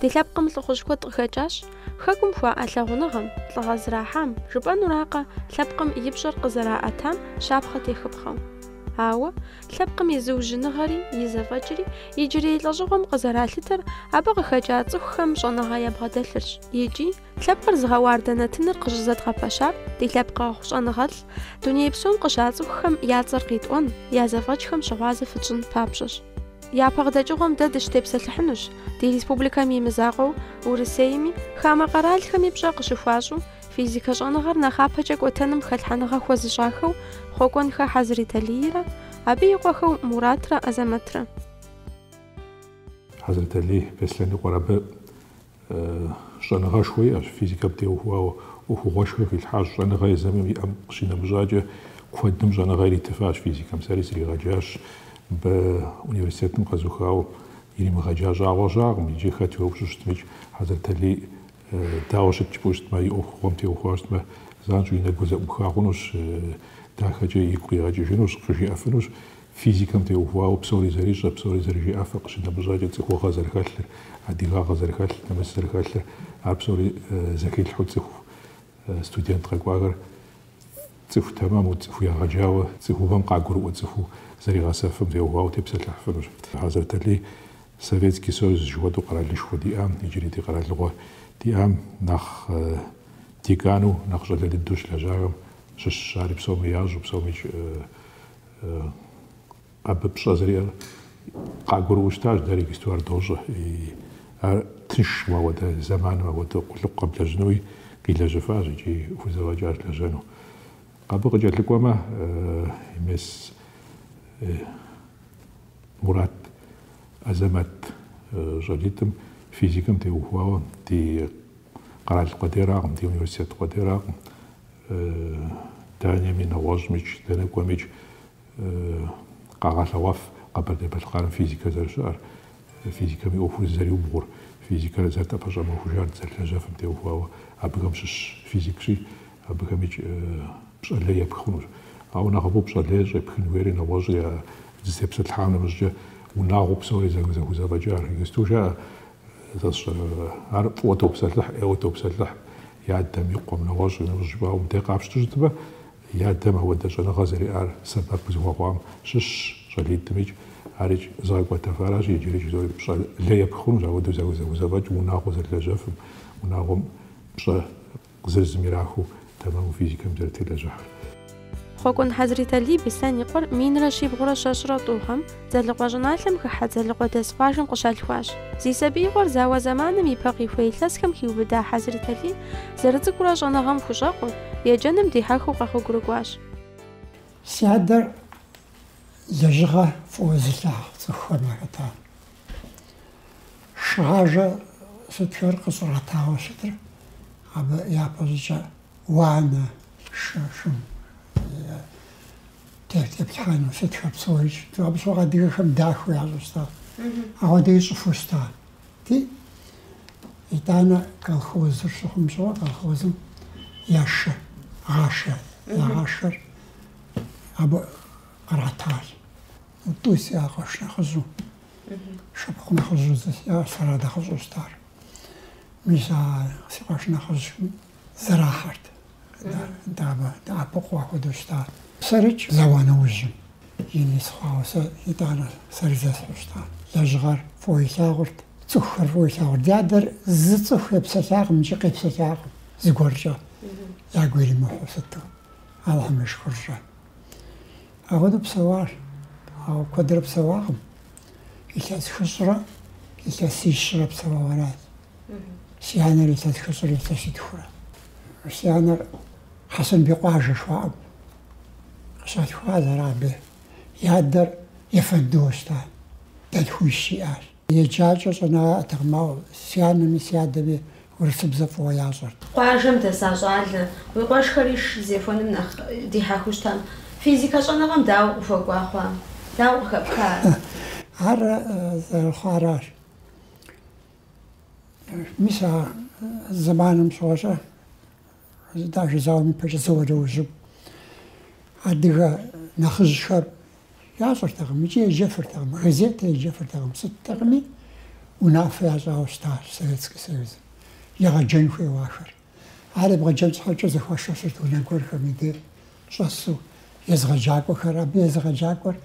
Ди лъэпкъым лӏыхъужь куэд къыхэкӏащ. Хэкум хуаӏэ лъагъуныгъэм, лӏыгъэ зрахьам, жыпӏэнуракъэ, лъэпкъым и пщӏэр къызэраӏэтам щапхъэ техыпхъэу. Ауэ, Лъэпкъым и зыужьыныгъэри, и зэфӏэкӏри иджырей лӏэщӏыгъуэм къызэралъытэр абы къыхэкӏа цӏыхухэм щӏэныгъэ ябгъэдэлъырщ икӏи лъэпкъыр зыгъэуардэ нэтыныр къыщӏызэдгъэпэщар ди лъэпкъэгъу щӏэныгъэлӏ дуней псом къыщацӏыхухэм я цӏэр къитӏуэн, я зэфӏэкӏхэм щыгъуазэ фытщӏын папщӏэщ. Япэ къыдэкӏыгъуэм дэ дыщытепсэлъыхьынущ ди республикэм и мызакъуэу Урысейми, хамэ къэралхэми пщӏэ къыщыхуащӏу, Физикэ щӏэныгъэр нэхъапэкӏэ кӏуэтэным хэлъхьэныгъэ хуэзыщӏахэу Хъуэкӏуэнхэ Хьэзрэталийрэ абы и къуэхэу Муратрэ Азэмэтрэ. Хьэзрэталий Беслъэн и къуэр абы щӏэныгъэшхуэ иӏэщ, физикэм теухуауэ ӏуэхугъуэшхуэ хилъхьащ. Щӏэныгъэ езым иӏэм къыщинэмыщӏакӏэ, куэдым щӏэныгъэ иритыфащ физикэм. Сэри сригъэджащ. Мыбы университетым къэзухауэ иримыгъэджа щӏагъуэ щыӏэкъым. Иджы хэт уеупщӏу щытмикӏ, Хьэзрэталий Дауэ щыт жыпӏэу щытмэ, и ӏуэхугъуэм теухуауэ щытмэ, занщӏэу и нэгур зэӏуха хъунущ, дахэкӏэ игу къигъэкӏыжынущ, къыжиӏэфынущ. Физикэм теухуауэ псори зэрищӏэр, псори зэрыжиӏэфыр, къыщинэмыщӏакӏэ цӏыхугъэ зэрыхэлъыр, адыгагъэ зэрыхэлъыр, нэмыс зэрыхэлъыр, ар псори зэхилъхьу цӏыху студент къэкӏуахэр цӏыху тэмэму, цӏыху егъэджауэ, цӏыхубэм къагурыӏуэ цӏыхуу зэригъэсэфым теухуауэ тепсэлъыхьыфынущ. Хьэзрэталий Советский Союз жыхуэтӏэу къэралышхуэ диӏам, иджыри ди къэралыгъуэ диӏам, нэхъ декану, нэхъ щӏалэ дыдэу щылэжьахэм щыщщ ари, псоми ящӏэу, псоми абы пщӏэ зэриӏэр къагурыӏуэу щытащ, дэри иджыпсту ар дощӏэ. Ар тыншщ мы апхуэдэ зэманым, апхуэдэ къулыкъу къэблэжьынуи къилэжьэфащ икӏи хузэфӏэкӏащ лэжьэну. Абы къыкӏэлъыкӏуэмэ, мес Мурат Азэмэт щӏалитӏым физикэм теухуауэ ди къэрал къуэдеракъым, ди университет къуэдеракъым. Дэнэми, нэгъуэщӏмикӏ, дэнэ кӏуэмикӏ къагъэлъэгъуэф Къэбэрдей-Балъкъэрым физикэр зэрыщыӏэр, физикэм и ӏуэхур зызэриубгъур, физикэр зэрытӏэпэщӏэмыхужар дызэрылэжьэфым теухуауэ абыхэм щыщ физикщи, Абыхэмикӏ пщӏэ лей епхынущ. Ауэ нэхъыфӏу пщӏэ лей щӏепхын хуейри нэгъуэщӏ я зытепсэлъхьа нэмыщӏкӏэ унагъуэу псори зэгузэвэкӏа архигэсту жаӏэ. Ар фӏыуэ топсэлъыхь, ӏейуэ топсэлъыхь и адэм и къуэм. Нэгъуэщӏ нэмыщӏ жыпӏауэ мыдэ къапщту щытмэ, и адэм апхуэдэ щӏэныгъэ зэриӏар сэбэп къызыхуэхъуам щыщщ щӏалитӏымикӏ. Арикӏ зыгъэкӏуэтэфар аращ иджыри жызоӏэри. Пщӏэ лей епхынущ апхуэдэу зэгузэвэкӏ унагъуэ зэрылэжьэфым, унагъуэм пщӏэ. Къызэрызым ирахыу тэмэму физикэм зэрытелэжьыхьыр. Хъуэкӏуэн Хьэзриталий Беслъэн и къуэр минрэ щибгъурэ щэщӏрэ тӏу гъэм, Дзэлыкъуэ щӏыналъэм хыхьэ Дзэлыкъуэдэс къуажэм къыщалъхуащ. Зи сабиигъуэр зауэ зэманым и пэ къихуэ илъэсхэм хиубыда Хьэзриталий зэрыцӏыкӏурэ щӏэныгъэм хущӏэкъуу, еджэным дихьэхыу къэгъуэгурыкӏуащ. Си адэр Лэжьыгъэ фӏыуэ зылъагъу цӏыхухэм яхэтащ. Шыгъажэ сытхэр къыщӏратауэ щытыр, абы япэщӏыкӏэ уанэ, шы, шым теплъхьэну сытхэр псори щыту. Абы щыгъуэ адыгэхэм дахэу ящӏу щыта. Ахуэдэ ищӏыфу щыта. Ти, итӏанэ колхозыр щыхъум щыгъуэ, колхозым я шы гъашхэ, я гъашхэр абы къратащ. Тӏу си а къуэш нэхъыжьу, шыпхъу нэхъыжьу зы сиӏар сэрат нэхъыщӏэу щытар. Мис а си къуэш нэхъыжьым зэрахьэрт, дэӏэпыкъуу ахуэдэу щытат. Сэрикӏ зауэ нэужьым, ин сыхъуауэ сэ итӏанэ сэри зесхьэу щытат. Лэжьыгъэр фӏыуэ илъагъурт, цӏыхухэр фӏыуэ илъагъурт. Ди адэр зы цӏыху епсэлъакъым икӏи къепсэлъакъым зыгуэркӏэ ягу иримыхьу сыту. Алыхьым и шыкуркӏэ. Апхуэдэу псэуащ, ауэ куэдрэ псэуакъым. Илъэс хыщӏрэ илъэсищрэ псэуауэ аращ. Си анэр илъэс хыщӏрэ илъэситхурэ. Си анэр Хьэсэнбий къуажэ жыхуаӏэм къыщалъхуащ, ар абы и адэр ефэндыуэ щыта, дэлъхуищ иӏащ. Еджэкӏэ щӏэныгъэ яӏэтэкъым, ауэ си анэми си адэми урысыбзэ фӏыуэ ящӏэрт. Къуажэм дэса щӏалэ, уи къуэшхэри шы зехуэным нэхъ дихьэхыу щытам. Физикэ щӏэныгъэм дауэ къыхуэкӏуа хъуа? Дауэ къыхэпха ар? Ар зэрыхъуаращ. Мис а зэманым щыгъуэщӏэ. Даже зауэм и пэкӏэ, зауэ нэужьу адыгэ нэхъыжьхэр ящӏэртэкъым, икӏи еджэфыртэкъым, газетэ еджэфыртэкъым, сыттэкъыми унафэ ящӏауэ щытащ Советский Союзым, егъэджэн хуейуэ ахэр. Ар ебгъэджэн щхьэкӏэ зэхуашэсырт унэ гуэрхэм и деж щӏэсу, езыгъэджакӏуэхэр. Абы езыгъэджакӏуэр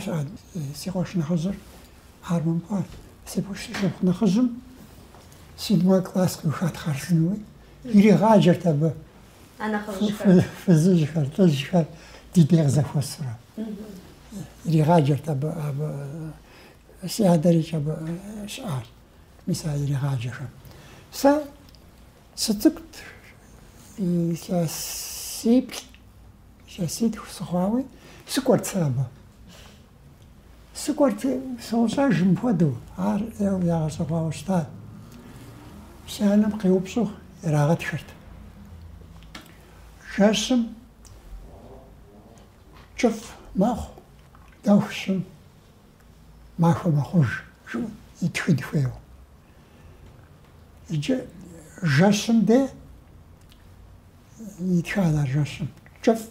жиӏат си къуэш нэхъыжьыр, ар мыпӏуа, си къуэш нэхъыжьым седьмой класс къиухат хъарзынэуи, Иригъаджэрт абы А нэхъыжьхэр. фы- фызыжьхэр, лӏыжьхэр ди дей къызэхуэсурэ. Иригъаджэрт абы, абы э, си адэрикӏ абы э, щыӏащ. Мис а иригъаджэхэм. Сэ сыцӏыкӏут, илъэсиплӏ, илъэситху сыхъуауи, сыкӏуэрт сэ абы. Сыкӏуэрти, сощӏэж мыпхуэдэу, ар ӏейуэ ягъэщӏэгъуауэ щытат. Си анэм къеупщӏу ирагъэтхырт. Жэщым кӏыфӏ мэхъу, дэху щым махуэ мэхъуж, жиӏэу итхын хуейуэ. Иджы жэщым де итхат а жэщым кӏыфӏ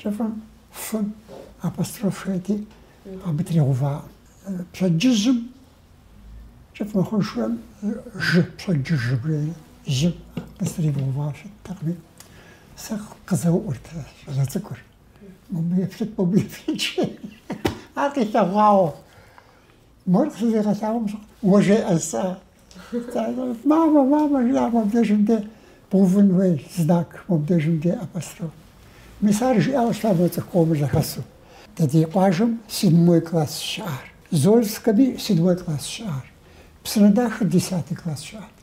Кӏыфӏым фым апостроф хуейти, абы тригъэувакъым. Пщэдджыжьым кӏыфӏ мыхъуншэм жы, пщэдджыж жыбжери, жьым къыстригъэува щыттэкъыми, сэ къызэуӏурт щӏалэ цӏыкӏур. Мыбы еплъыт, мыбы еплъыт жи. Ар къилъэгъуауэ. Мор къызэригъэлъагъуэм щыгъуэ, уэ жеӏэ сэ. Мамэ, мамэ, жиӏа мобдежым де бгъэувын хуей знак, мобдежым де апостроф. Мис ар жиӏауэ щыта мы цӏыху къомыр зэхэсу. Дэ ди къуажэм седьмой класс щыӏар. Зольскэми седьмой класс щыӏар. Псынэдахэ десятый класс щыӏат.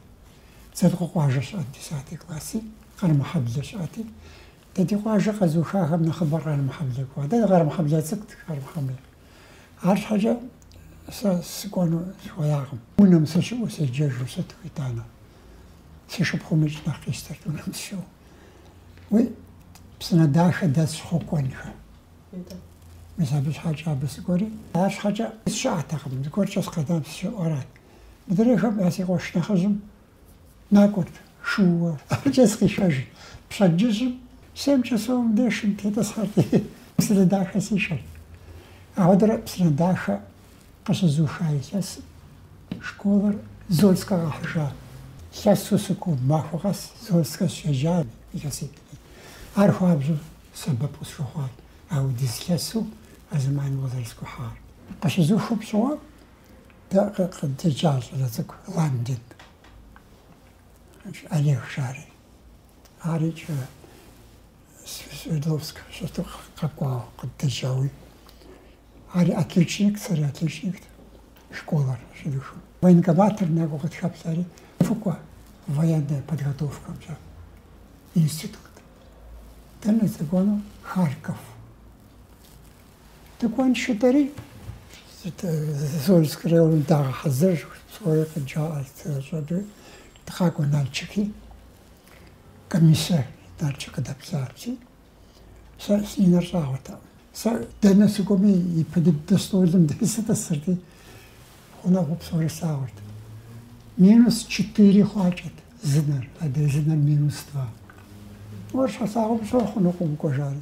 Дзэлыкъуэкъуажэ щыӏат десятый класси, Къэрмыхьэблэ щыӏати. Дэ ди къуажэ къэзухахэм нэхъыбэр Къэрмыхьэблэ кӏуа. Атӏэ ди Къэрмыхьэблэ цӏыкӏут, Къэрмыхьэблэ. Арщхьэкӏэ сэ сыкӏуэну сыхуеякъым. Унэм сыщыӏэу седжэжу сыту, итӏанэ. Си шыпхъумикӏ нэхъ къищтэрт унэм сыщыӏэу. Уи Псынэдахэ дэс щхъу кӏуэнхэ. Мис абы щхьэкӏэ абы сыкӏуэри. Арщхьэкӏэ сыщыӏэтэкъым, зэгуэркӏэ сыкъэнам сыщыӏэу арат. Мыдрейхэм э си къуэш нэхъыжьым Накӏуэрт шууэ. Абыкӏэ сыкъишэжырт. Пщэдджыжьым семь часовым де шым тетӏысхьэрти, Псынэдахэ сишэрт. Апхуэдэурэ Псынэдахэ къыщызуха илъэсым школыр Зольскэ къахьыжа. Лъэсу сыкӏуэу, махуэ къэс Зольскэ сыщеджами, илъэситӏми. Ар хуабжьу сэбэп къысхуэхъуат апхуэдиз лъэсу а зэманым къызэрыскӏухьар. Къыщызухым щыгъуэ, Дэ къыддеджа щӏалэ цӏыкӏу Ландин Олег жари. Ар иджы Свердловск щыту къэкӏуауэ къыддеджауи. Ари отличник, сэри отличникт школэр щыдухым. Военкоматыр накӏуэу къытхэплъэри, фыкӏуэ военная подготовкэмкӏэ институт. Дэнэ сыкӏуэну? Харьков. Дыкӏуэн щытари Зольск районым дагъэхьэзырщ, псори къыджаӏэрт зэрыщӏэкӏыр. Дыкъакӏуэ Налчыки, комиссэ Налчык къыдэплъати, сэ си нэр щӏагъуэтэкъым. Сэ дэнэ сыкӏуэми, ипэ дыдэ стӏолым дей сытӏысырти, гъунэгъуу псори слъагъурт. Минус четыре хъуакӏэт зы нэр, адрей зы нэр минус два. Ар щалъагъум щӏэ хъунукъым укӏуэ жари.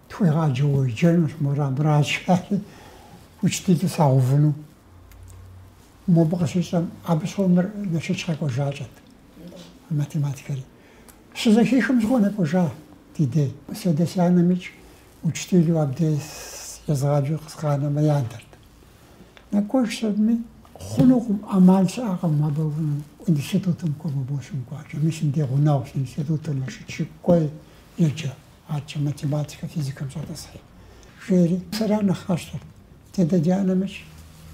Тхуегъаджэ уеджэнущ, мор абрачхьэри учителу сагъэувыну. Мобы къыщищӏэм, абы щыгъуэ мыр Налшыч къэкӏуэжакӏэт, математикэри. Щызэхихым щыгъуэ нэкӏуэжа ди дей. Си адэ си анэмикӏ учителу абдей езгъаджэу сыкъанэмэ ядэрт. Нэкӏуэжщ абыми. Хъунукъым, ӏэмал щыӏэкъым абы институтым кӏуэ, мобы ущымыкӏуакӏэ. Мис мыбдеж гъунэгъущ, институтым, Налшыч кӏуэи еджэ. Арчэ математикэ, физикэм щӏэтӏысхьи, жери. Сэ ара нэхъ къасщтэр, ди адэ ди анэмикӏ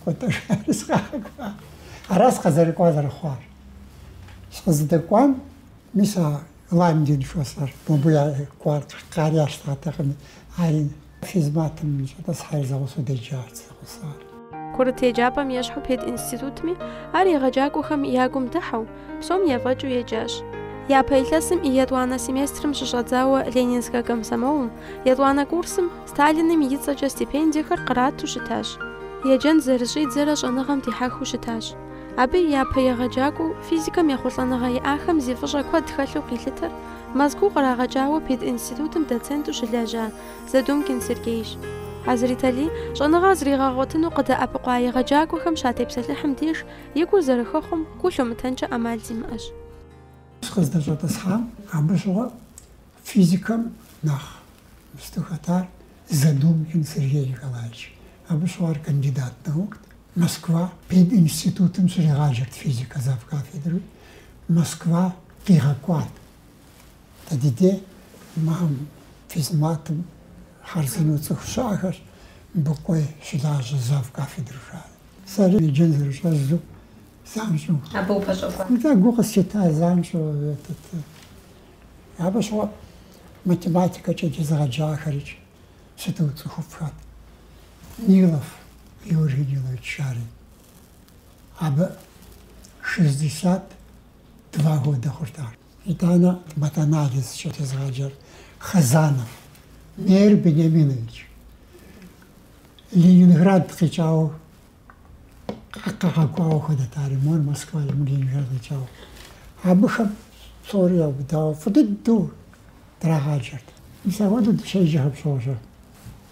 кӏуэ-тӏэ жари сыкъагъэкӏуа. Ара сыкъызэрыкӏуар зэрыхъуар. Сыкъызыдэкӏуам, мис а Ланген шосэр, мобы я кӏуар, ари ящтатэкъыми, ари физматым щӏэтӏысхьэри зэгъусэу деджащ. пэсар. Курыт еджапӏэм ещхьу пединститутми ар егъэджакӏуэхэм я гум дыхьэу, псом ефӏэкӏыу еджащ. Япэ илъэсым и етӏуанэ семестрым щыщӏэдзауэ Ленинскэ комсомолым, етӏуанэ курсым, Сталиным и цӏэкӏэ стипендиехэр кърату щытащ. Еджэн зэрыщӏидзэрэ щӏэныгъэм дихьэхыу щытащ. Абы и япэ егъэджакӏуэу, физикэм ехъулӏэныгъэ иӏахэм зи фӏыщӏэ куэд хэлъу къилъытэр, Мэзкуу кърагъэкӏауэ пединститутым доценту щылэжьа, Задумкин Сергейщ. Азритали, щӏэныгъэ зригъэгъуэтыну къыдэӏэпыкъуа егъэджакӏуэхэм щатепсэлъыхьым деж, и гур зэрыхэхъуэм, гу лъумытэнкӏэ ӏэмал зимыӏэщ. Сыкъыздэщӏэтӏысхьам абы щыгъуэ физикэм нэхъ сыту хэтар Задумкин Сергей Николаевич. Абы щыгъуэ ар кандидат наукт, Москва пединститутым щригъаджэрт физикэ завкафедрэуи, Москва къигъэкӏуат. Да, ди дей макъым физматым хъарзынэу цӏыху щыӏэхэрщ, мыбы кӏуэи щылажьэ завкафедрэу жари. Сэри еджэн зэрыщӏэздзэу занщӏэу. Абы упэщӏэхуа? Мыдэ гу къыслъита занщӏэу дэтт. Абы щыгъуэ математикэкӏэ дезыгъэджахэри сыту цӏыхуфӏхэт. Нилов Георгий Нилович жари. Абы шестьдесят два года хъурт ар. Итӏанэ матанализкӏэ дезыгъаджэр Хазанов Мейр Бениаминович Ленинград къикӏауэ къагъэкӏуауэ хуэдэт ар и мор Москва и мор Ленинград къикӏауэ. Абыхэм псори яубыдауэ фӏы дыдэу драгъаджэрт. Мис ахуэдэу дыщеджэхэм щогъущӏэ.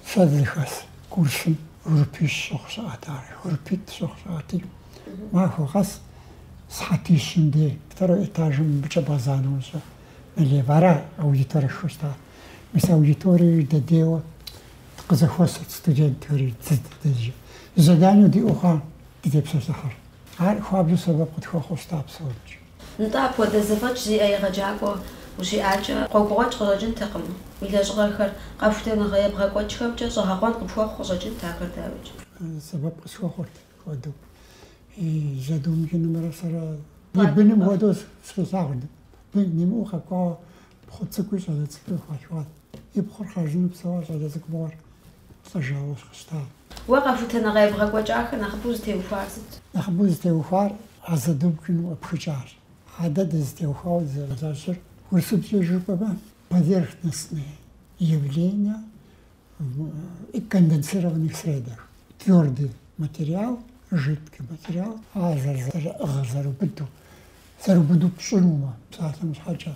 Сэ дызыхэс курсым группищ щыхъу щыӏэт ар, группитӏ щыхъу щыӏэти, махуэ къэс сыхьэтищым дей, второй этажым мыбыкӏэ бгъэзанэу щӏы, налево, ара аудиторэшхуэ щыта. Мис аудиториер дыдейуэ къызэхуэсырт студентхэри, заданэу диӏэу хъуам дытепсэлъыхьырт. Ар хуабжьу сэбэп къытхуэхъуу щыта псомкӏи. Нтӏэ, апхуэдэ зэфӏэкӏ зиӏэ егъэджакӏуэ ущиӏакӏэ, гъуэгугъуэкӏ къыщӏэкӏынтэкъым, уи лэжьыгъэхэр къэхутэныгъэ ебгъэкӏуэкӏхэмкӏэ щӏэгъэкъуэн къыпхуэхъу къыщӏэкӏынт ахэр дауикӏ. Сэбэп къысхуэхъурт хуэдэу и Задумкинымрэ сэрэ и быным хуэдэу сыкъилъагъурт. Бын имыӏэу къэкӏуауэ пхъу цӏыкӏуи щӏалэ цӏыкӏуи хуалъхуат. И пхъур хъарзынэу псэуа щӏалэ цӏыкӏу мыгъуэр? Лӏэжауэ щытащ. Уэ къэхутэныгъэ ебгъэкӏуэкӏахэр нэхъыбэу зытеухуар сыт? Нэхъыбэу зытеухуар а Задумкиным къыпхыкӏащ. А дэ дызытеухуауэ дызэрыщӏэкӏыр урысыбзэкӏэ жыпӏэмэ поверхностные явления в конденсированных средах, твёрдый материал, жидкий материал, ар зэрызэрыӏыгъыр, зэрыубыдыр, зэрыубыду пщӏынумэ псалъэм щхьэкӏэ.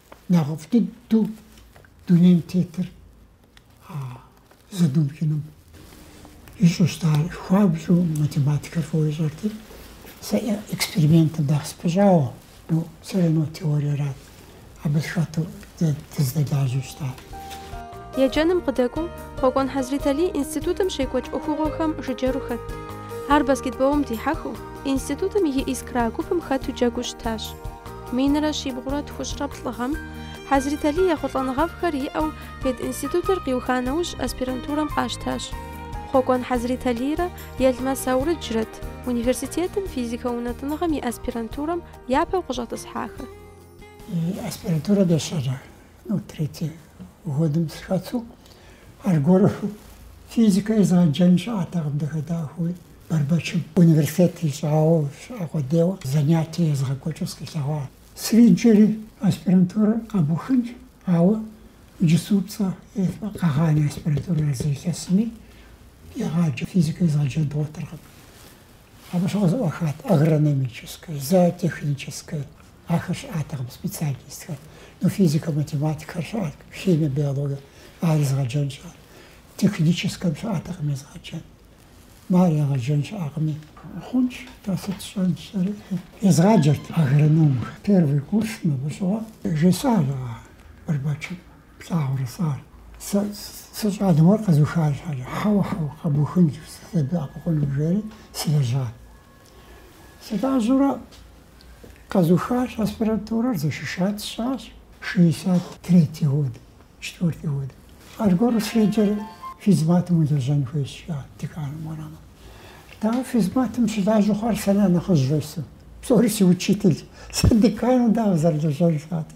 нэхъыфӏ дыдэу дунейм тетыр а Задумкиным ищӏэу щытащ. Ар хуабжьу математикэр фӏыуэ ищӏэрти, сэ экспериментым нэхъ сыпыщӏауэ, ну, все равно теориерат, абы сыхэту дызэдэлажьэу щытащ. Еджэным къыдэкӏуэу, Хъуэкӏуэн Хьэзрэталий институтым щекӏуэкӏ ӏуэхугъуэхэм жыджэру хэт. Ар баскетболым дихьэхыу, институтым и искра гупым хэту джэгуу щытащ. Минрэ щибгъурэ тхущӏрэ плӏы гъэм, Хьэзрэталий ехъулӏэныгъэфӏхэр иӏэу пединститутыр къиуха нэужь аспирантурэм къащтащ. Хъуэкӏуэн Хьэзрэталийрэ Елмэс Аурыджрэт университетым физикэ унэтӏыныгъэм и аспирантурэм япэу къыщӏэтӏысхьахэр. Аспирантурэ дыщэрэ Ну, третий годым сыхэту, аргуэру физикэ езыгъэджэн щыӏэтэкъым дахэ-дахэуи, Бэрбэчым университет ищӏауэ щыӏэ къудейуэ занятие езгъэкӏуэкӏыу сыкъилъэгъуа. Сриджэри аспирантурэ къэбухынщ, ауэ иджыпстукӏэ къэгъанэ аспирантурэр зы илъэсми, егъаджэ физикэ езыгъэджэн дгъуэтыркъым. Абы щыгъуэ зэӏуахат агрономическэ, зоотехническэ, ахэр щыӏатэкъым специальностхэр. Ну, физикэ, математикхэр щыӏат, химие, биологие, ар езыгъэджэн щыӏат. Техническэм щыӏатэкъым езыгъэджэн. Мар егъэджэн щыӏакъыми. Хъунщ, тӏэ сыт сщӏэнщ сэри. Езгъаджэрт агрономхэр. Первый курс мыбы щыгъуэ жесӏащ а Бэрбэчым. плъагъурэ сэ ар? Сэ сэ щӏалэм уэр къэзухар щхьэкӏэ? Хьэуэ, хьэуэ, къэбухынщ, сыбдэӏэпыкъуну, жери сылэжьат. Сылажьэурэ къэзухащ, аспирантурэр защищать сщӏащ, шестьдесят третий год, четвертый год. Аргуэру среджэри физматым улэжьэн хуейщ, жиӏат деканым уэрамым. Дауэ физматым щылажьэу хъуар сэрэ нэхъыжь жесӏэу. Псори си учитель. Сэ декану дауэ сызэрылэжьэнур, жиӏати.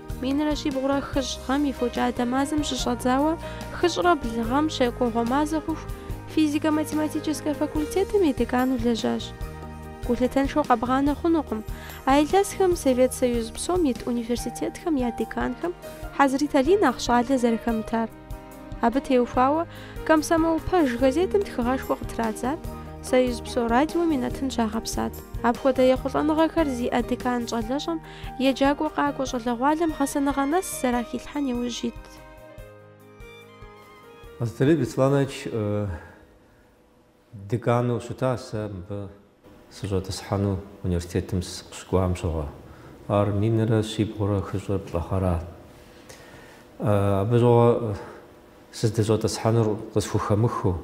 Минрэ щибгъурэ хыщӏ гъэм и фокӏадэ мазэм щыщӏэдзауэ хыщӏрэ блы гъэм щэкӏуэгъуэ мазэ хъуху физико-математическэ факультетым и декану лэжьащ. Гулъытэншэу къэбгъанэ хъунукъым, а илъэсхэм Совет Союз псом ит университетхэм я деканхэм Хьэзрэталий нэхъ щӏалэ зэрыхэмытар. Абы теухуауэ Комсомол пэж газетым тхыгъэшхуэ къытрадзат, Союз псо радиом и нэтын щагъэпсат. Апхуэдэ ехъулӏэныгъэхэр зиӏэ декан щӏалэщӏэм Еджакӏуэ къакӏуэ щӏалэгъуалэм гъэсэныгъэ нэс зэрахилъхьэн иужь ит. Хьэзрэталий Бесланович декану щыта, сэ мыбы сыщӏэтӏысхьэну университетым сыкъыщыкӏуам щыгъуэ. Ар минрэ щибгъурэ хыщӏрэ плӏы гъэрат. Абы щыгъуэ Сыздыщӏэтӏысхьэнур къысхухэмыхыу,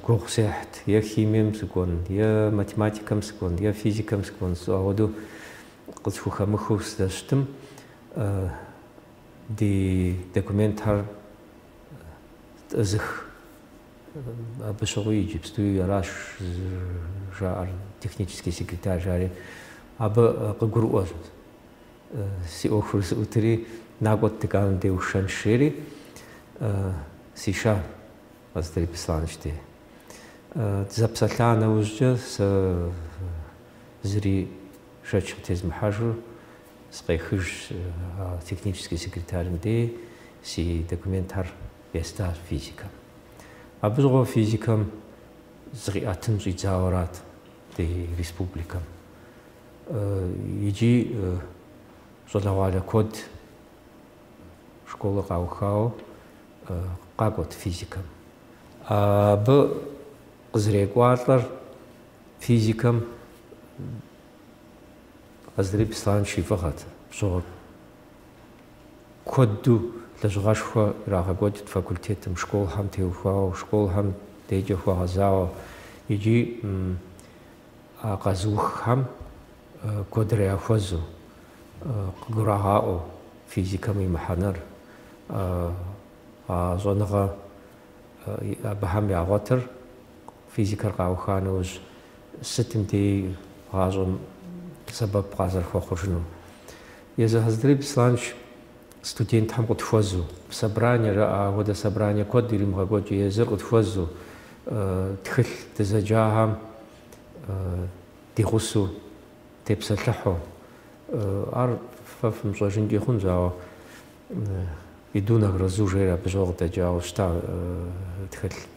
гугъу сехьт, е химием сыкӏуэн, е математикэм сыкӏуэн, е физикэм сыкӏуэн жысӏэу, апхуэдэу къысхухэмыхыу сыздэщытым, ди документхэр тӏызых, абы щыгъуи иджыпстуи аращ жаӏэр, технический секретарь, жари абы къыгурыӏуэщ. Си ӏуэхур зыӏутри, накӏуэт деканым дей усшэнщ, жери, сишащ Хьэзрэталий Бесланыч дей. Дызэпсэлъа нэужькӏэ сэ зыри шэч къытезмыхьэжу сыкъехыжщ а технический секретарым дей си документхэр естащ физикэм. Абы щыгъуэ физикэм зыкъиӏэтын щӏидзауэрат ди республикэм. Икӏи щӏалэгъуалэ куэд школэ къаухауэ къакӏуэт физикэм. Абы къызэрекӏуалӏэр физикэм Хьэзрэталий Бесланыч и фӏыгъэт. Абы щыгъуэ куэду лэжьыгъэшхуэ ирагъэкӏуэкӏырт факультетым, школхэм теухуауэ, школхэм дежкӏэ хуэгъэзауэ. Икӏи А къэзыуххэм куэдрэ яхуэзэу, къыгурагъаӏуэу физикэм и мыхьэнэр, а щӏэныгъэ абыхэм ягъуэтыр физикэр къауха нэужь, сытым деи гъащӏэм сэбэп къазэрыхуэхъужынум. Езы Хьэзрэталий Бесланыч студентхэм къытхуэзу, собрание жаӏа апхуэдэ собрание куэд иримыгъэкӏуэкӏми, езыр къытхуэзу, тхылъ дызэджахэм ди гъусэу тепсэлъыхьу, ар фэ фымыщӏэжынкӏи хъунщ, ауэ «Иду на грозу» жери абы щыгъуэ къыдэкӏауэ щыта тхылъ.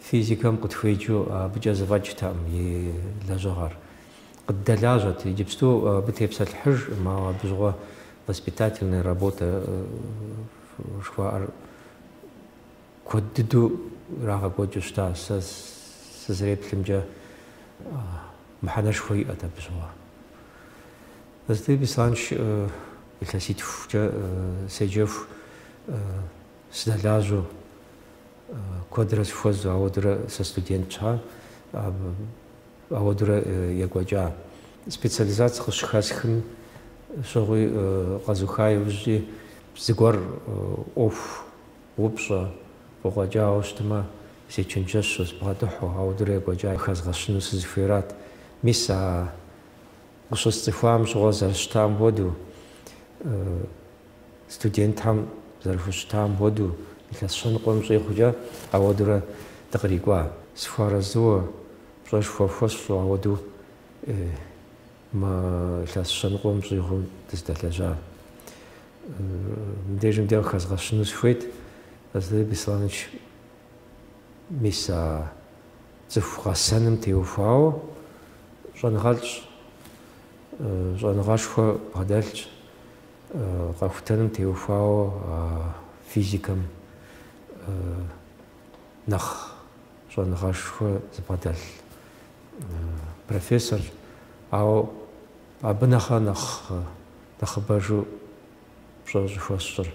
Физикэм къытхуеджэу абыкӏэ зэфӏэкӏтэкъым и лэжьыгъэр. Къыддэлажьэт, иджыпсту абы тепсэлъыхьыжкъым, ауэ абы щыгъуэ воспитательная работэ жыхуаӏэр куэд дыдэу ирагъэкӏуэкӏыу щыта. Сэ сызэреплъымкӏэ, мыхьэнэшхуэ иӏэт абы щыгъуэ. Зэзытеби санщ, илъэситхукӏэ седжэху. Сыдэлажьэу, куэдрэ сыхуэзэу, ауэдурэ сэ студент щхьа, ауэдурэ екӏуэкӏа. Специализаци къысщыхэсхым щыгъуи къэзуха иужькӏи, зыгуэр ӏуэху упщӏэ, къыкъуэкӏауэ щытмэ, сечэнджэщу, сыбгъэдыхьу, ауэдурэ екӏуэкӏа хэзгъэщыну сызыхуейрат. Мис а къыщысцӏыхуам щыгъуэ зэрыщытам хуэдэу, Студентхэм зэрыхущытам хуэдэу, илъэс щэныкъуэм щӏигъукӏэ ауэдурэ дыкърикӏуа. Сыхуэарэзыуэ, пщӏэшхуэ хуэсщӏу ауэду мы илъэс щэныкъуэм щӏигъум дыздэлэжьа. Мыбдежым дэ къыхэзгъэщыну сыхуейт, Хазретали Бесланович мис а цӏыху гъэсэным теухуауэ щӏэныгъэлӏщ, щӏэныгъэшхуэ бгъэдэлъщ. Къэхутэным теухуауэ физикэм нэхъ щӏэныгъэшхуэ зыбгъэдэлъ профессор, ауэ абы нэхъэ нэхъ нэхъыбэжу пщӏэ щӏыхуэсщӏыр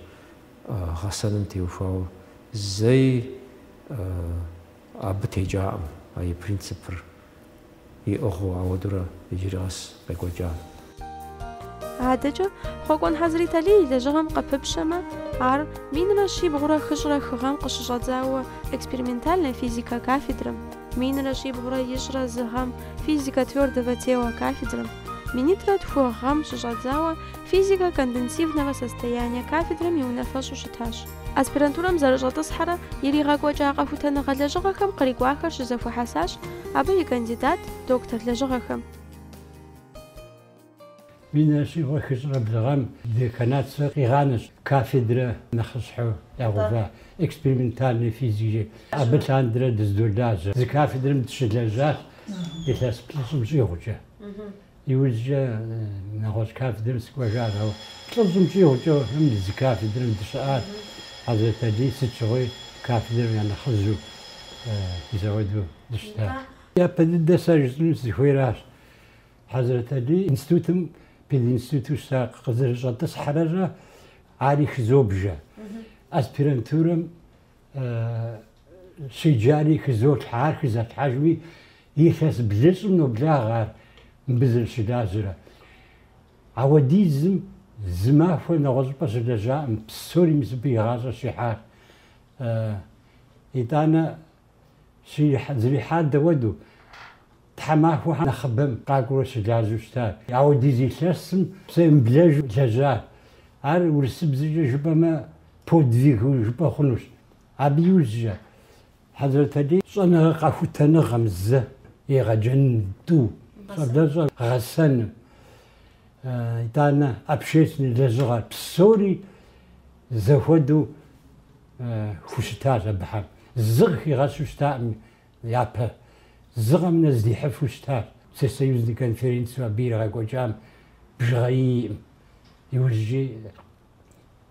гъэсэным теухуауэ зэи абы текӏакъым а и принципыр. иӏыгъыу ауэдурэ иджыри къэс къекӏуэкӏа. Адэкӏэ, Хъуэкӏуэн Хьэзриталий и лэжьыгъэм къыпыпщэмэ, ар минрэ щибгъурэ хыщӏрэ хы гъэм къыщыщӏэдзауэ экспериментальнэ физикэ кафедрэм, минрэ щибгъурэ ищӏрэ зы гъэм физикэ твёрдого тела кафедрэм, минитӏрэ тху гъэм щыщӏэдзауэ физикэ конденсивного состояния кафедрэм и унафэщӏу щытащ. Аспирантурэм зэрыщӏэтӏысхьэрэ иригъэкӏуэкӏа къэхутэныгъэ лэжьыгъэхэм кърикӏуахэр щызэхуэхьэсащ абы и кандидат, доктор лэжьыгъэхэм. Минрэ щибгъурэ хыщӏрэ блыгъэм деканатыр къигъанэщ кафедрэ нэхъыщхьэу ягъэува экспериментальной физикэкӏэ. Абы лъандэрэ дыздолажьэ. Зы кафедрэм дыщылэжьащ илъэс плӏыщӏым щӏигъукӏэ. Иужькӏэ нэгъуэщӏ кафедрэм сыкӏуэжащ, ауэ плӏыщӏым щӏигъукӏэ абыхэм зы кафедрэм дыщыӏащ. Хьэзрэт Алий сыт щыгъуи кафедрэм я нэхъыжьу мис ауэдэу дыщытащ. Япэ дыдэ сэ жысӏэну сызыхуейращ, Хьэзрэт Алий институтым пединституту щыта къызэрыщӏэтӏысхьэрэ ари хызобжэ, аспирантурэм щеджари хызолъхьэ, ар хызолъхьэжри Илъэс блыщӏым ноблагъэ ар мыбы зэрыщылажьэрэ. Ауэдизым зы махуэ нэгъуэщӏыпӏэ щылэжьакъым, псори мис абы и гъащӏэр щихьащ. Итӏанэ зэрихьар дауэдэу, тхьэмахуэхэм нэхъыбэм къакӏуэурэ щылажьэу щытащ. Ауэдиз илъэсым псэ емыблэжу лэжьащ. Ар урысыбзэкӏэ жыпӏэмэ, подвиг жыпӏэ хъунущ. Абы иужькӏэ, Хьэзрэт Алий щӏэныгъэ къэхутэныгъэм зы, егъэджэн тӏу, щӏэблэщӏэ гъэсэным, итӏанэ общественнэ лэжьыгъэр псори зэхуэдэу хущытащ абыхэм. Зы къыхигъэщу щытакъым япэ, зы къэмынэу здихьыфу щытащ. Всесоюзный конференцэу абы иригъэкӏуэкӏам бжыгъэ иӏэкъым. Иужькӏи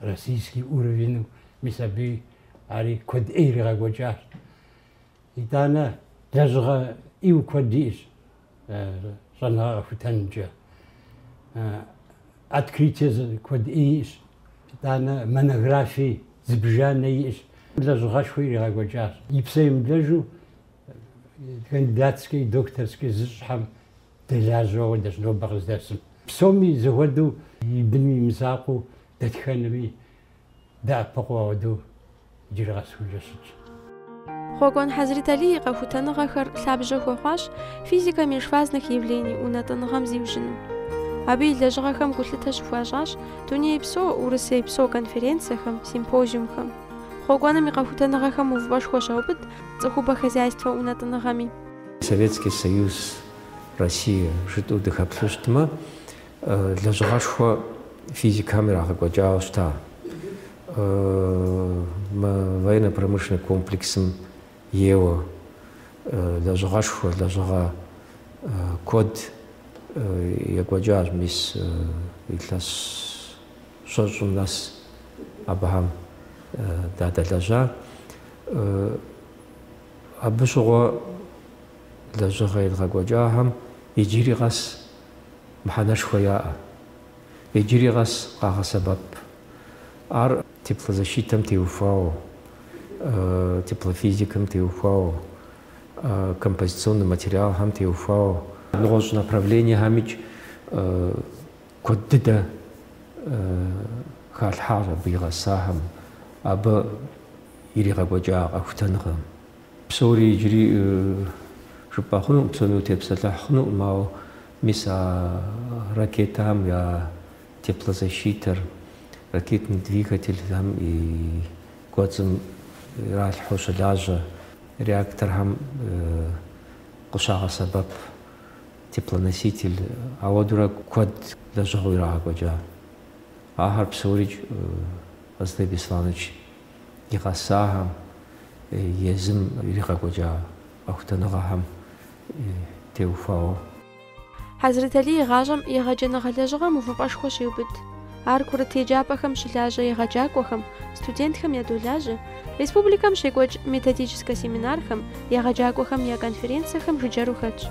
российский уровеньу, мис абы ари куэд ӏей иригъэкӏуэкӏащ. Итӏанэ лэжьыгъэ ӏейуэ куэд иӏэщ щӏэныгъэ къэхутэнымкӏэ. Открытие куэд ӏей иӏэщ, итӏанэ монографие зыбжанэ иӏэщ. Лэжьыгъэшхуэ иригъэкӏуэкӏащ. И псэ емыблэжу кандидатскэ и докторскэ зыщӏхэм Дэлажьэу ауэдэщ нобэ къыздэсым. Псоми зэхуэдэу и быным и мызакъуэу дэтхэнэми дэӏэпыкъуу ауэдэу иджырэ къэсхункӏэ щытщ. Хъуэкӏуэн Хьэзрит Алий и къэхутэныгъэхэр лъабжьэ хуэхъуащ физикэ межфазных явлений унэтӏыныгъэм зиужьыным. Абы и лэжьыгъэхэм гулъытэ щыхуащӏащ дунейпсо, урысейпсо конференцэхэм, симпозиумхэм. Хъуэкӏуэным и къэхутэныгъэхэм увыпӏэшхуэ щаубыд цӏыхубэ хозяйствэ унэтӏыныгъэми. Советский Союз, Россия жытӏэу дыхэплъэу щытмэ, лэжьыгъэшхуэ физикхэм ирагъэкӏуэкӏауэ щыта. Мы военно-промышленный комплексым ейуэ лэжьыгъэшхуэ, лэжьыгъэ куэд екӏуэкӏащ мис илъэс щэщӏым нэс абыхэм дадэлэжьа. Абы щыгъуэ лэжьыгъэ едгъэкӏуэкӏахэм иджыри къэс мыхьэнэшхуэ яӏэ, иджыри къэс къагъэсэбэп. Ар теплозащитэм теухуауэ, теплофизикэм теухуауэ, композиционнэ материалхэм теухуауэ, нэгъуэщӏ направлениехэмкӏ куэд дыдэ халъхьащ абы и гъэсахэм. Абы Иригъэкӏуэкӏа къэхутэныгъэм. Псори иджыри жыпӏэ хъунукъым, псоми утепсэлъыхь хъунукъым, ауэ мис а ракетахэм я теплозащитэр, ракетный двигательхэм и кӏуэцӏым иралъхьэу щылажьэ, реакторхэм къыщагъэсэбэп теплоноситель, ауэдурэ куэд лэжьыгъэу ирагъэкӏуэкӏа. Ахэр псорикӏ Хьэзрэталий Бесланович и гъэсахэм, езым иригъэкӏуэкӏа къэхутэныгъэхэм теухуауэ. Хьэзрэталий и гъащӏэм егъэджэныгъэ лэжьыгъэм увыпӏэшхуэ щеубыд. Ар курыт еджапӏэхэм щылажьэ егъэджакӏуэхэм, студентхэм ядолажьэ, республикэм щекӏуэкӏ методическэ семинархэм, егъэджакӏуэхэм я конференцэхэм жыджэру хэтщ.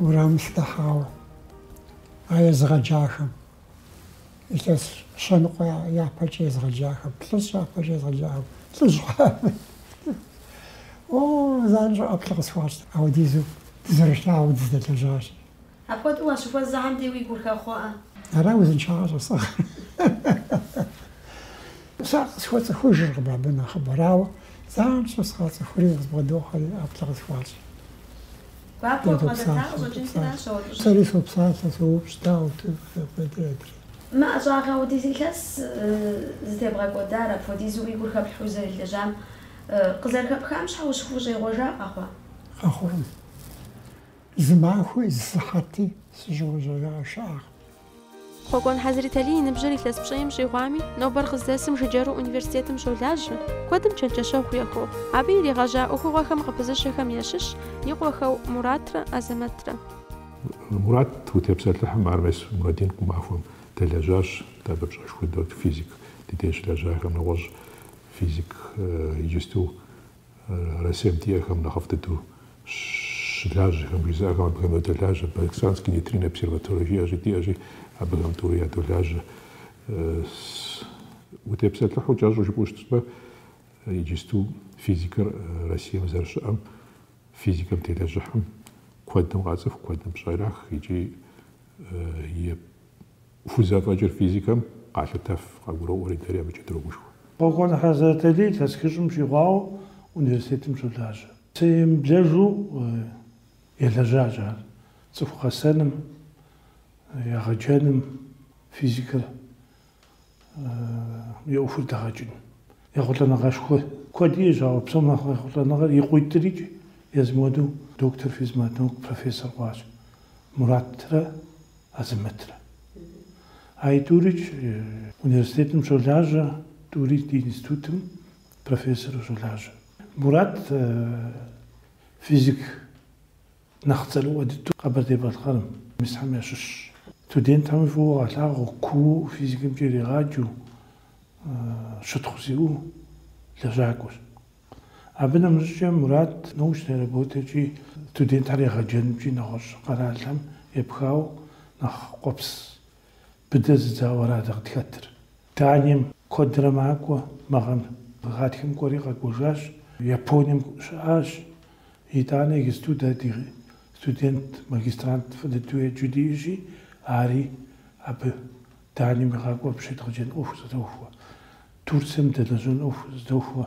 Уэрамым сыдыхьауэ а езыгъэджахэм, илъэс щэныкъуэ япэкӏэ езыгъэджахэм, плӏыщӏ япэкӏэ езыгъэджахэм, лӏыжь хъуами, о, занщӏэу ӏэплӏэ къысхуащӏт, ауэдизу дызэрылъагъуу дыздэлэжьащ. Апхуэдэу уащыхуэзэм де уи гур хэхъуэ-а? Ара узыншагъэр щӏэсыгъэр? Сэ къысхуэцӏыхужыркъым абы нэхъыбэр, ауэ, занщӏэу сыкъацӏыхури къызбгъэдохьэри ӏэплӏэ къысхуащӏ. Гуапэу къызэта къыщӏэкӏын сэращ а уэфӏыщӏэр. Сэри сопсалъэ, соупщӏ, дауэ тынхэ куэдыр адрей? Мы ӏэщӏагъэ апхуэдиз илъэс зытебгъэкӏуэдар, апхуэдизу уи гур хэплъхьэу узэрылэжьам къызэрыхэпхам щхьэ ущыхущӏегъуэжа къэхъуа? Къэхъуркъым. Зы махуи, зы сыхьэти сыщӏегъуэжауэ щыӏакъым. Хъуэкӏуэн Хьэзрэталий и ныбжьыр илъэс пщӏейм щӏигъуами, нобэр къыздэсым жыджэру университетым щолажьэ, куэдым чэнджэщэгъу яхуэхъуу. Абы иригъэжьа ӏуэхугъуэхэм къыпызыщэхэм ящыщщ и къуэхэу Муратрэ Азэмэтрэ. Мурат утепсэлъыхьым, ар мис Мурадин Къумахуэм дэлэжьащ, дэ абы пщӏэшхуэ дот, физик. Ди деж щылэжьахэм нэгъуэщӏ физик иджысту Россием диӏэхэм нэхъыфӏ дыдэу щылажьэхэм жызыӏэхэм абыхэм ядолажьэ. Баксанский нейтриннэ обсерваторие жиӏэщи, диӏэщи, абыхэм тӏури ядолажьэ. Утепсэлъыхьу кӏэщӏу жыпӏэу щытмэ, иджысту физикэр Россием зэрыщыӏэм, физикэм телэжьыхьым куэдым къацӏыху, куэдым пщӏэ ирах икӏи е Хузэфӏэкӏыр физикэм къалъытэф, къагуроӏуэри, дэри абыкӏэ дрогушхуэ. Хъуэкӏуэн Хьэзрэталий илъэс хыщӏым щӏигъуауэ университетым щолажьэ. Псэемыблэжу елэжьащ ар цӏыху гъэсэным, егъэджэным, физикэр. И ӏуэхур дэгъэкӏын. Ехъулӏэныгъэшхуэ куэд иӏэщ, ауэ псом нэхъ ехъулӏэныгъэр и къуитӏрикӏ езым хуэдэу доктор физматнаук профессор хъуащ Муратрэ Азэмэтрэ. А и тӏурикӏ университетым щолажьэ, тӏури ди институтым профессору щолажьэ. Мурат физик. Нэхъ цӏэрыӏуэ дыдэу Къэбэрдей-Балъкъэрым, Мисхьэм ящыщщ. Студентхэми фӏыуэ къалъагъу куу физикэмкӏэ иригъаджэу щытхъу зиӏэу лэжьакӏуэщ. Абы нэмыщӏкӏэ Мурат научнэ работэкӏи студентхэр егъэджэнымкӏи нэгъуэщӏ къэралхэм епхауэ нэхъ къуэпс быдэ зыдзауэ ара дэ къытхэтыр. Данием куэдрэ макӏуэ. Мы гъэм гъатхэм кӏуэри къэкӏуэжащ. Японием щыӏащ. Итӏанэ иджысту дэ ди студент, магистрант фӏы дыдэу еджэу диӏэщи, ари абы Данием игъакӏуэу абы щедгъэджэн ӏуэху зыдохуэ. Турцием дэлэжьэн ӏуэху зыдохуэ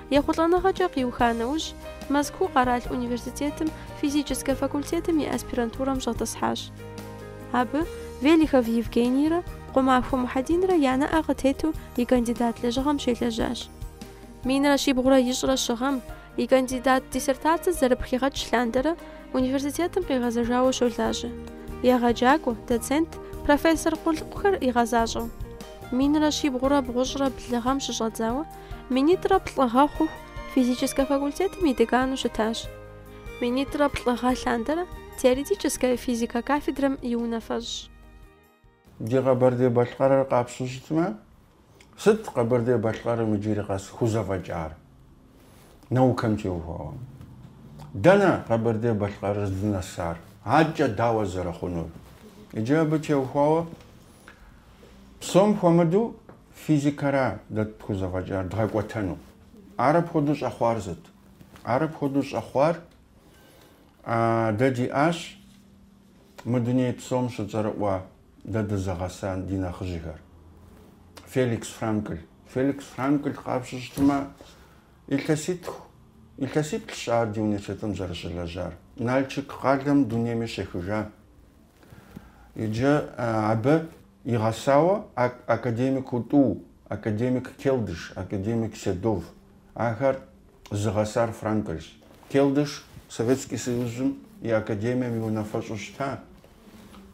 Ехъулӏэныгъэкӏэ къиуха нэужь, Мэзкуу къэрал университетым физическэ факультетым и аспирантурэм щӏэтӏысхьащ. Абы Велихов Евгенийрэ Къумахуэ Мухьэдинрэ я нэӏэ къытету и кандидат лэжьыгъэм щелэжьащ. Минрэ щибгъурэ ищӏрэ щы гъэм, и кандидат диссертацэ зэрыпхигъэкӏ лъандэрэ университетым къигъэзэжауэ щолажьэ, егъэджакӏуэ, доцент, профессор къулыкъухэр игъэзащӏэу. Минрэ щибгъурэ бгъущӏрэ блы гъэм щыщӏэдзауэ, Минитӏрэ плӏы гъэ хъуху физическэ факультетым и декану щытащ. Минитӏрэ плӏы гъэ лъандэрэ теоретическэ физикэ кафедрэм и унафэщӏщ. Ди Къэбэрдей-Балъкъэрыр къапщу щытмэ, сыт Къэбэрдей-Балъкъэрым иджыри къэс хузэфӏэкӏар? Наукэм теухуауэ, дэнэ Къэбэрдей-Балъкъэрыр здынэсар, адэкӏэ дауэ зэрыхъунур? Иджы абы теухуауэ, псом хуэмыдэу Физикэра дэ тхузэфӏэкӏар дгъэкӏуэтэну. Ар апхуэдэу щӏэхъуар сыт? Ар апхуэдэу щӏэхъуар дэ диӏащ мы дуней псом щыцӏэрыӏуэ дэ дызыгъэса ди нэхъыжьхэр. Феликс Франкль. Феликс Франкль къапщу щытмэ, илъэситху, илъэсиплӏщ ар ди университетым зэрыщылэжьар. Налчык къалэм дунейми щехыжа. Иджы абы игъэсауэ академик Уту, академик Келдыш, академик Седов. Ахэр зыгъэсар Франкэрщ. Келдыш Советский Союзым и академием и унафэщӏу щыта.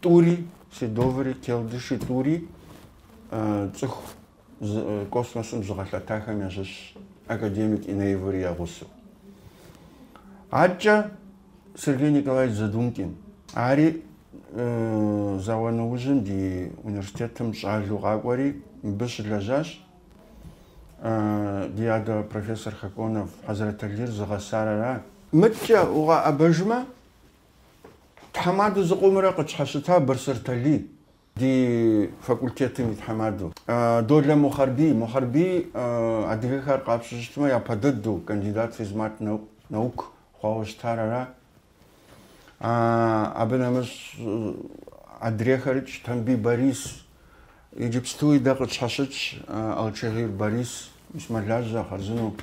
Тӏури, Седоври, Келдыши, Тӏури цӏыху космосым зыгъэлъэтахэм ящыщщ академик Энеевыр и гъусэу. Адкӏэ Сергей Николаевич Задумкин, ари зауэ нэужьым ди университетым щӏалэу къакӏуэри, мыбы щылэжьащ. Ди адэ профессор Хоконов Хьэзрэталир зыгъэсар ара. Мыдэкӏэ укъаӏэбэжмэ, тхьэмадэу зыкъомрэ къытщхьэщыта Бырсыр Талий Ди факультетым и тхьэмадэу. Долэ Мухьэрбий. Мухьэрбий адыгэхэр къапщтэу щытмэ, япэ дыду кандидат физмат наук хъуауэ щытар ара. Абы нэмыщӏ адрейхэрикӏ, Тамбий Борис. Иджыпстуи дэ къытщхьэщытщ Алчагъыр Борис, мис мэлажьэ, хъарзыну.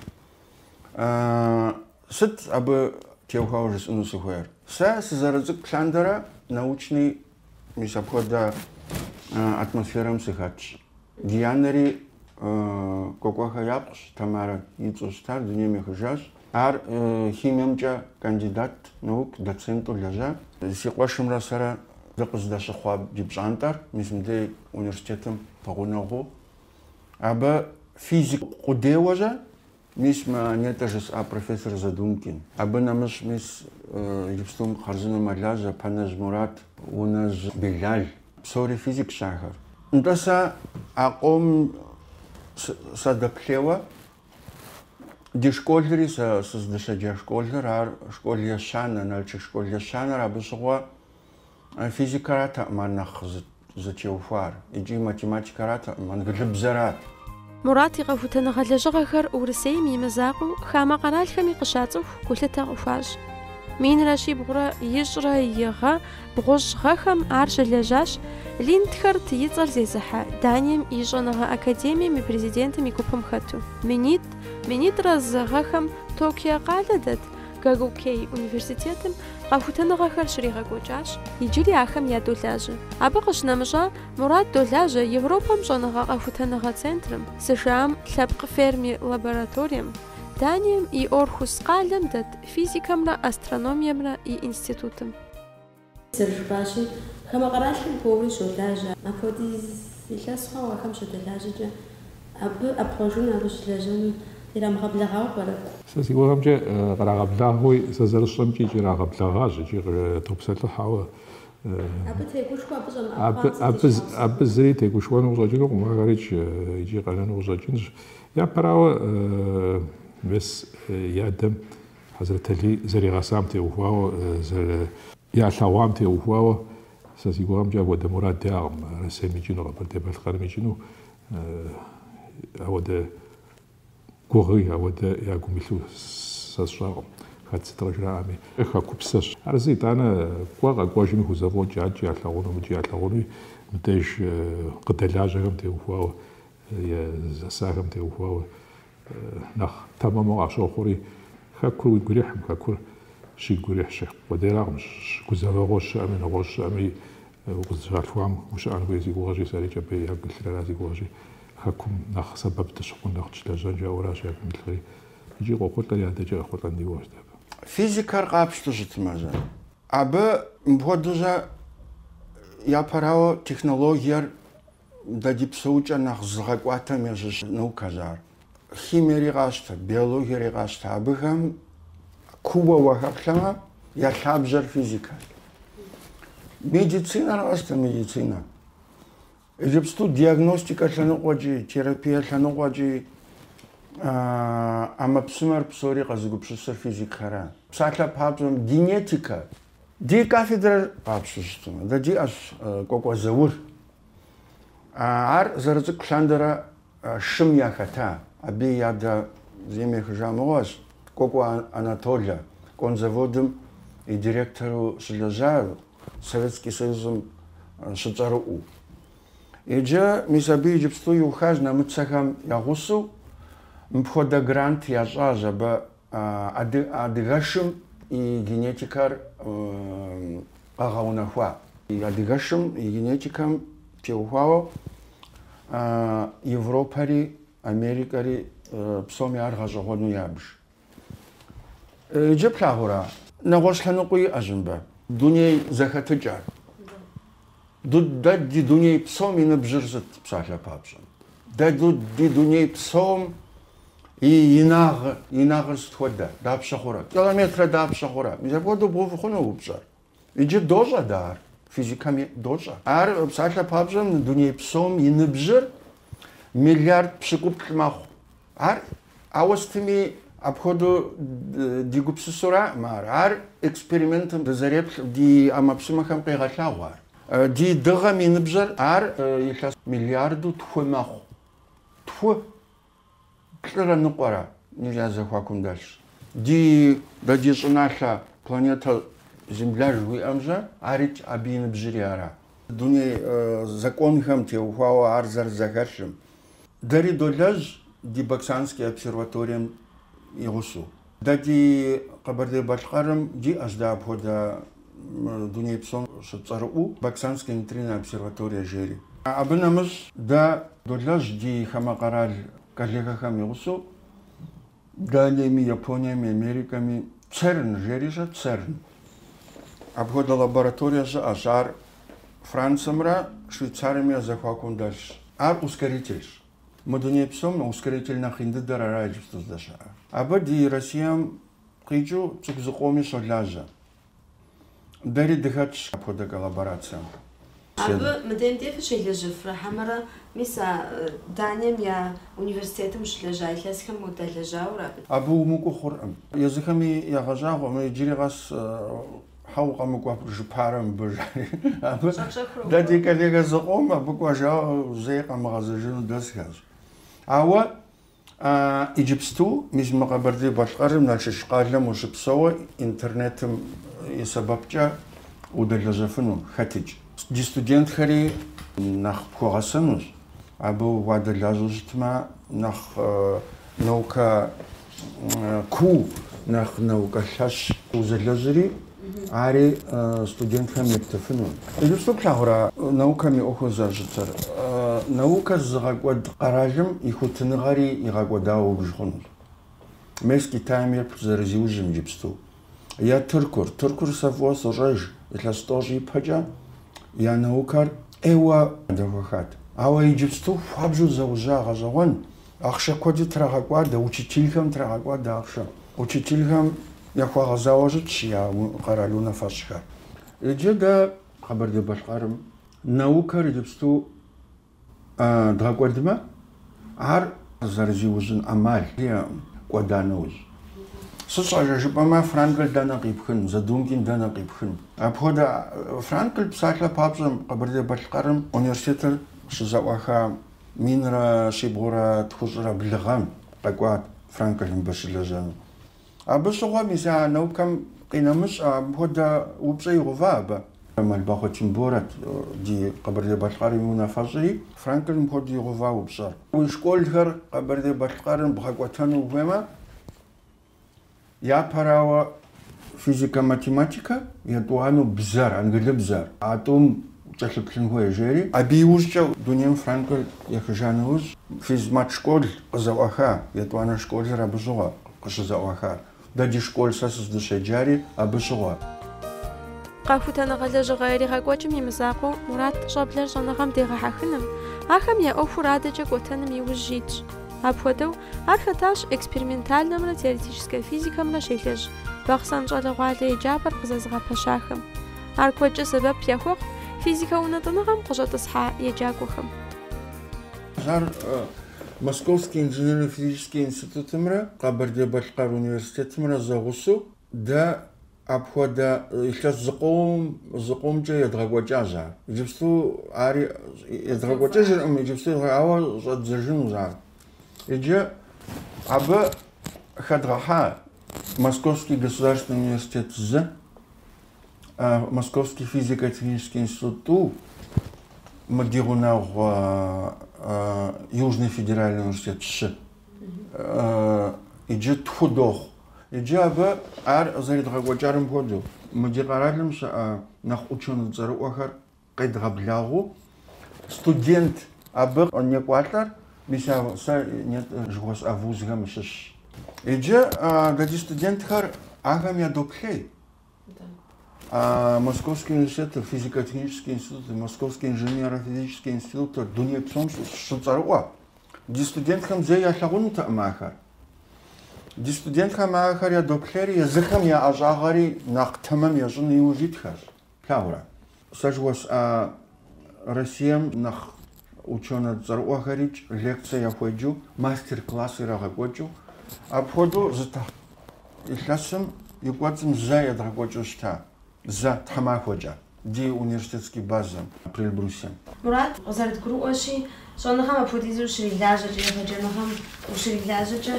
Сыт абы теухуауэ жысӏэну сыхуейр? Сэ сызэрыцӏыкӏу лъандэрэ научный мис апхуэдэ атмосферэм сыхэтщ. Ди анэри Кӏуэкӏуэхэ япхъущ, Тамарэ и цӏэу щытар, дунейм ехыжащ. Ар химиемкӏэ кандидат наук, доценту лэжьа. Си къуэшымрэ сэрэ дыкъыздэщыхъуа ди пщӏантӏэр мис мыдей университетым пэгъунэгъуу. Абы физик къудейуэ щэ. Мис мы нетӏэ жысӏа профессор Задумкин. Абы нэмыщӏ мис иджыпстум хъарзыну мэлажьэ Пэнэжь Мурат, Унэжь Белал, псори физикщ ахэр. Нтӏэ сэ а къом садэплъейуэ, ди школри, сэ сыздыщеджа школыр, ар школ ещанэ, Налшык школ ещанэр, абы щыгъуэ, Физикэратэкъым ар нэхъ зытеухуар икӏи математикэратэкъым, англыбзэрат. Мурат и къэхутэныгъэ лэжьыгъэхэр Урысейм и мызакъуэу хамэ къэралхэми къыщацӏыху гулъытэ къыхуащӏ. Минрэ щибгъурэ ищӏрэ и гъэ бгъущӏ гъэхэм ар щылэжьащ Линдхард и цӏэр зезыхьэ Данием и щӏэныгъэ академием и президентым и гупым хэту. Минитӏ, минитӏрэ зы гъэхэм Токио къалэ дэт Гагукей университетым къэхутэныгъэхэр щригъэкӏуэкӏащ, иджыри ахэм ядолажьэ. Абы къыщынэмыщӏа, Мурат долажьэ Европэм щӏэныгъэ къэхутэныгъэ центрым, США-м лъэпкъ ферми лабораторием, Данием и Орхус къалэм дэт физикэмрэ астрономиемрэ и институтым. Зэрыжыпӏащи, хамэ къэралхэм куууэури щолажьэ. Апхуэдиз илъэс хъуау ахэм щыдэлажьэкӏэ, абы ӏэпхъуэжыну, абы щылэжьэну ирамыгъэблэгъауэ пӏэрэ? Сэ си гугъэмкӏэ, къырагъэблагъэуи, сэ зэрысщӏэмкӏи икӏи ирагъэблэгъащ икӏи къытопсэлъыхь, ауэ. Абы тегушхуэ, абы щӏэмыӏэпхъуам сызищӏащ. Абы зыри тегушхуэну къыщӏэкӏынукъым, ахэрикӏ икӏи къэнэну къыщӏэкӏынщ. Япэрауэ, мес и адэм Хьэзрэталий зэригъэсам теухуауэ, зэры. Ялъэгъуам теухуауэ, сэ си гугъэмкӏэ апхуэдэ мурад иӏакъым, Россием икӏыну, Къэбэрдей-Балъкъэрым икӏыну, апхуэдэ гугъи, апхуэдэ я гум илъу сэ сщӏэркъым, хэт сыт къыжраӏэми. Хэкупсэщ. Ар зы итӏанэ кӏуэ къэкӏуэжми хузэфӏокӏ, адэкӏи ялъэгъуну, мыдэкӏи ялъэгъунуи, мыбдеж къыдэлажьэхэм теухуауэ. Е зэсахэм теухуауэ нэхъ тэмэму къащохъури, хэкур уигу ирихьым, хэкур щигу ирихьщ. Къудейракъым, гузэвэгъуэ щыӏэми, нэгъуэщӏ щыӏэми укъызыщалъхуам ущыӏэн хуей си гугъэщи, сэри Кӏэбей ягу илъыр ара си гугъэщи, хэкум нэхъ сэбэп дыщыхъун, нэхъ дыщылэжьэн жаӏэуращ ягум илъхъри. Икӏи къохъулӏэри адэкӏи къехъулӏэн ди гугъэщ дэ абы. Физикэр къапщту щытмэ зэ, абы мыпхуэдэу зэ япэрауэ технологиер Дэ ди псэукӏэр нэхъ зыгъэкӏуатэм ящыщ наукэщ ар. Химиери къащтэ, биологиери къащтэ. Абыхэм кууэ уахэплъэмэ, я лъабжьэр физикэщ. Медицинэр къащтэ, медицинэ. Иджыпсту диагностикэ лъэныкъуэкӏи, терапие лъэныкъуэкӏи ӏэмэпсымэр псори къэзыгупсысыр физикхэра. Псалъэ папщӏэм генетикэ Ди кафедрэр къапщту щытмэ, дэ диӏэщ Кӏуэкӏуэ Заур. Ар зэрыцӏыкӏу лъандэрэ шым яхэта. Абы и адэ дунейм ехыжа мыгъуэщ, Кӏуэкӏуэ Анатолэ, конзаводым и директору щылэжьа, Советский Союзым щыцӏэрыӏуэу. Иджы, мис абы иджыпсту иухащ нэмыцэхэм я гъусэу, мыпхуэдэ грант ящӏащ абы. Адыгэшым и генетикэр къэгъэунэхуа? Адыгэшым и генетикэм теухуауэ Европэри, Америкэри псоми ар гъэщӏэгъуэну ябж. Иджы плъагъура? Нэгъуэщӏ лъэныкъуи иӏэщ мыбы. Дуней зэхэтыкӏэр. Дэ ди дуней псом и ныбжьыр сыт псалъэ папщӏэм? Дэ ди дуней псом и инагъ, инагъыр сыт хуэдэ? Дапщэ хъурэ? Километрэ дапщэ хъурэ? Мис апхуэдэу бгъэув хъуну упщӏэр? Иджы дощӏэ дэ ар, физикэм дощӏэ. Ар псалъэ папщӏэм дуней псом и ныбжьыр миллиард пщыкӏуплӏ мэхъу. Ар, ауэ сытми, апхуэдэу ди гупсысэуракъым ар. Ар экспериментым дызэреплъым, ди ӏэмэпсымэхэм къигъэлъэгъуа. Ди дыгъэм и ныбжьыр ар илъэс миллиардэу тху мэхъу. Тху плӏырэ ныкъуэрэ я зэхуакум дэлъщ. Ди, дэ ди щӏыналъэ планетэ Земля жыхуиӏэмжьэ, ар итщ, абы и ныбжьыри ара. Дуней законхэм теухуауэ ар зэрызэхэлъым. Дэри долэжь ди Баксанскэ обсерваторием и гъусэу. Дэ ди Къэбэрдей-Балъкъэрым диӏэщ дэ апхуэдэ дуней псом щыцӏэрыӏуэу Баксанскэ нейтринэ обсерваторие жери. Абы нэмыщӏ дэ долэжь ди хамэ къэрал коллегэхэм и гъусэу. Италиеми, Япониеми, Америкэми, ЦЕРН жери щӏэ, ЦЕРН. Апхуэдэ лабораторие щыӏэщ, ар Франциэмрэ Швейцариеми я зэхуакум дэлъщ. Ар ускорительщ. Мы дуней псом ускоритель нэхъ ин дыдэр ара иджыпсту здэщыӏэр. Абы ди Россием къикӏыу цӏыху зыкъоми щолажьэ. Дэри дыхэтщ апхуэдэ коллаборацием. Абы мы ДНТФ-р щелэжьэфрэ хьэмэрэ, мис а Данием я университетым щылэжьа илъэсхэм удалэжьауэ ара? Абы умыкӏуэу хъуркъым. Езыхэми ягъэщӏагъуэ, мы иджыри къэс щхьэ укъэмыкӏуэжыпэрэ мыбы, жари. Абы дэ ди коллегэ зыкъом абы кӏуэжауэ зэи къэмыгъэзэжыну дэсхэщ. Ауэ А иджыпсту мис мы Къэбэрдей-Балъкъэрым Налшык къалэм ущыпсэууэ интернетым и сэбэпкӏэ удэлэжьэфыну, хэтыкӏ. Ди студентхэри нэхъ пхуэгъэсэнущ, абы уадэлажьэу щытмэ, нэхъ наукэ куу, нэхъ наукэ лъэщ узэлэжьри, Ари студентхэм ептыфыну. Иджыпсту плъагъура наукэм и ӏуэхур зэрыщытыр? Наукэр зыгъэкӏуэд къэралым и хуитыныгъэри игъэкӏуэдауэ убж хъунущ. Мес Китайм еплъ зэрызиужьым иджыпсту. Е Тыркур. Тыркур сэ фӏыуэ сощӏэж, илъэс тӏощӏ ипэкӏэ я наукэр ӏейуэ дэхуэхат. Ауэ иджыпсту хуабжьу зиужьа гъэщӏэгъуэн Ахъшэ куэди трагъэкӏуадэ, учителхэм трагъэкӏуадэ ахъшэ. Учителхэм яхуэгъэзауэ щытщ я къэрал унафэщӏхэр. Иджы дэ Къэбэрдей-Балъкъэрым наукэр иджыпсту дгъэкӏуэдмэ, ар зэрызиужьын ӏэмал кӏуэда нэужь. Сыт щхьэкӏэ жыпӏэмэ, Франкл дэнэ къипхын, Задумкин дэнэ къипхын? Апхуэдэ Франкл псалъэ папщӏэ Къэбэрдей-Балъкъэрым университетыр щызэӏуаха Минрэ щибгъурэ тхущӏрэ блыгъэм къэкӏуат Франкл мыбы щылэжьэну. Абы щыгъуэ мис а наукэм къинэмыщӏэ апхуэдэ упщӏэ игъува абы? Мэлбахъуэ Тимборэт ди Къэбэрдей-Балъкъэрым и унафэщӏри. Франкл мыпхуэдэу игъува упщӏэр? Уи школхэр Къэбэрдей-Балъкъэрым бгъэкӏуэтэну ухуеймэ, Япэрауэ, физикэ-математикэ етӏуанэу бзэр, англыбзэр, а тӏум укӏэлъыплъын хуей, жери. Абы иужькӏэ дунейм Франклыр ехыжа нэужь, физмат школ къызэӏуаха, етӏуанэ школыр абы щыгъуэ къыщызэӏуахар. Дэ ди школ сэ сыздыщеджари абы щыгъуэ. Къэхутэныгъэ лэжьыгъэ иригъэкӏуэкӏым и мызакъуэу Мурат щӏэблэр щӏэныгъэм дегъэхьэхыным, ахэм я ӏуэхур адэкӏэ кӏуэтэным и ужь итщ. Апхуэдэу, ар хэтащ экспериментальнэмрэ теоретическэ физикэмрэ щелэжь Бахъсэн щӏалэгъуалэ еджапӏэр къызэзыгъэпэщахэм. Ар куэдкӏэ сэбэп яхуэхъу физикэ унэтӏыныгъэм къыщӏэтӏысхьа еджакӏуэхэм. Ар Московский инженерно-физический институтымрэ Къэбэрдей-Балъкъэр университетымрэ зэгъусэу дэ Апхуэдэ илъэс зыкъом, зыкъомкӏэ едгъэкӏуэкӏащ ар. Иджыпсту ар едгъэкӏуэкӏыжыркъым, иджыпсту едгъэ, ауэ щӏэддзэжынущ ар. Иджы абы хэдгъэхьа Московский государственный университет зы, а, Московский физико-технический институт тӏу, мы ди гъунэгъу а, а, Южный федеральный университет щы. А, иджы тху дохъу. Иджы абы ар зэридгъэкӏуэкӏарым хуэдэу, мы ди къэралым щыӏэ нэхъ ученый цӏэрыӏуэхэр къедгъэблагъэу, студент абы некӏуалӏэр, мис а сэ нетӏэ жыхуэсӏа вузхэм щыщщ. Иджы а ди студентхэр ахэм ядоплъей. А Московский университетыр, физико-технический институт, Московский инженерно-физический институтыр дуней псом щыцӏэрыӏуэ. Ди студентхэм зэи ялъагъунутэкъым ахэр. Ди студентхэм ахэр ядоплъейри, езыхэм я ӏэщӏагъэри нэхъ тэмэм ящӏыну иужь итхэщ. Плъагъурэ? Сэ жыхуэсӏа Россием нэхъ ученэ цӏэрыӏуэхэрикӏ лекцэ яхуеджу, мастер-класс ирагъэкӏуэкӏыу, апхуэдэу зы тхьэ, илъэсым и кӏуэцӏым зэ едгъэкӏуэкӏыу щыта, зэ, тхьэмахуэкӏэ, ди университетский базэм, Приэльбрусьем. Мурат, къызэрытгурыӏуэщи, щӏэныгъэм апхуэдизу ущрилажьэкӏэ, егъэджэныгъэм ущрилажьэкӏэ,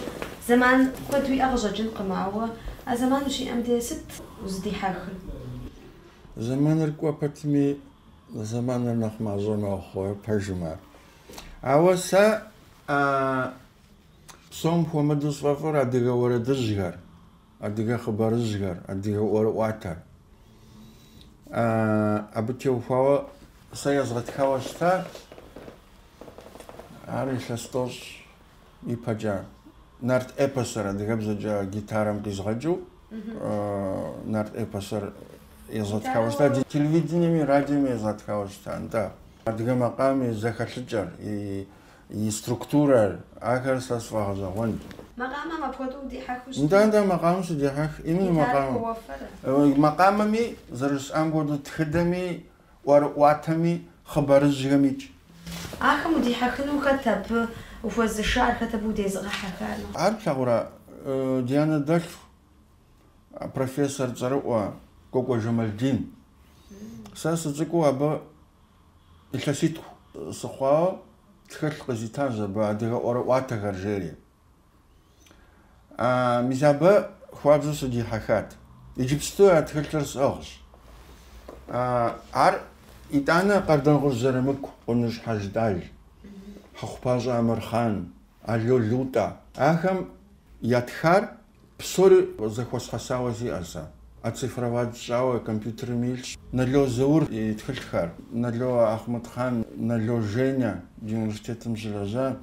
зэман куэд уиӏэ къыщӏэкӏынкъым, ауэ а зэман ущиӏэм де сыт узыдихьэхыр? Зэманыр кӏуэ пэтми, зэманыр нэхъ мащӏэ мэхъу, пэжым ар. Ауэ сэ псом хуэмыдэу сфӏэфӏыр адыгэ уэрэдыжьхэр, адыгэ хъыбарыжьхэр, адыгэ ӏуэрыӏуатэр. Абы теухуауэ сэ езгъэтхауэ щыта, ар илъэс тӏощӏ. ипэкӏэ нарт эпосыр адыгэбзэкӏэ гитарэм къизгъэкӏыу нарт эпосыр езгъэтхауэ щыта, ди телевидениеми, радиоми езгъэтхауэ щыта, нтӏэ. Адыгэ макъамэм и зэхэлъыкӏэр, и структурэр, ахэр сэ сфӏэгъэщӏэгъуэнт. Макъамэм апхуэдэу удихьэхыу щытын? Нтӏэ, нтӏэ, макъамэм сыдехьэх. Именно макъамэм. Макъамэми, зэрыжысӏам хуэдэу, тхыдэми, ӏуэрыӏуатэми, хъыбарыжьхэмикӏ. Ахэм удихьэхыну хэт абы ухуэзышар, хэт абы удезыгъэхьэхар? Ар плъагъурэ, ди анэ дэлъху профессор цӏэрыӏуэ Кӏуэкӏуэ Жэмалдин. Сэ сыцӏыкӏуу абы илъэситху сыхъуауэ тхылъ къызитащ абы адыгэ ӏуэрыӏуатэхэр жери. А, мис абы хуабжьу сыдихьэхат. Иджыпсту а тхылъыр сӏыгъщ. А, ар, итӏанэ, Къардэнгъущӏ Зырамыку, Къуныжь Хьэждал, Хьэхъупащӏэ Амырхъан, Ало Лутӏэ, ахэм ятхар Псори зэхуэсхьэсауэ сиӏэ сэ. Оцифровать щӏауэ компьютерым илъщ Нало Заур и тхылъхэр, Нало Ахьмэдхъан, Нало Женя ди университетым щылэжьа.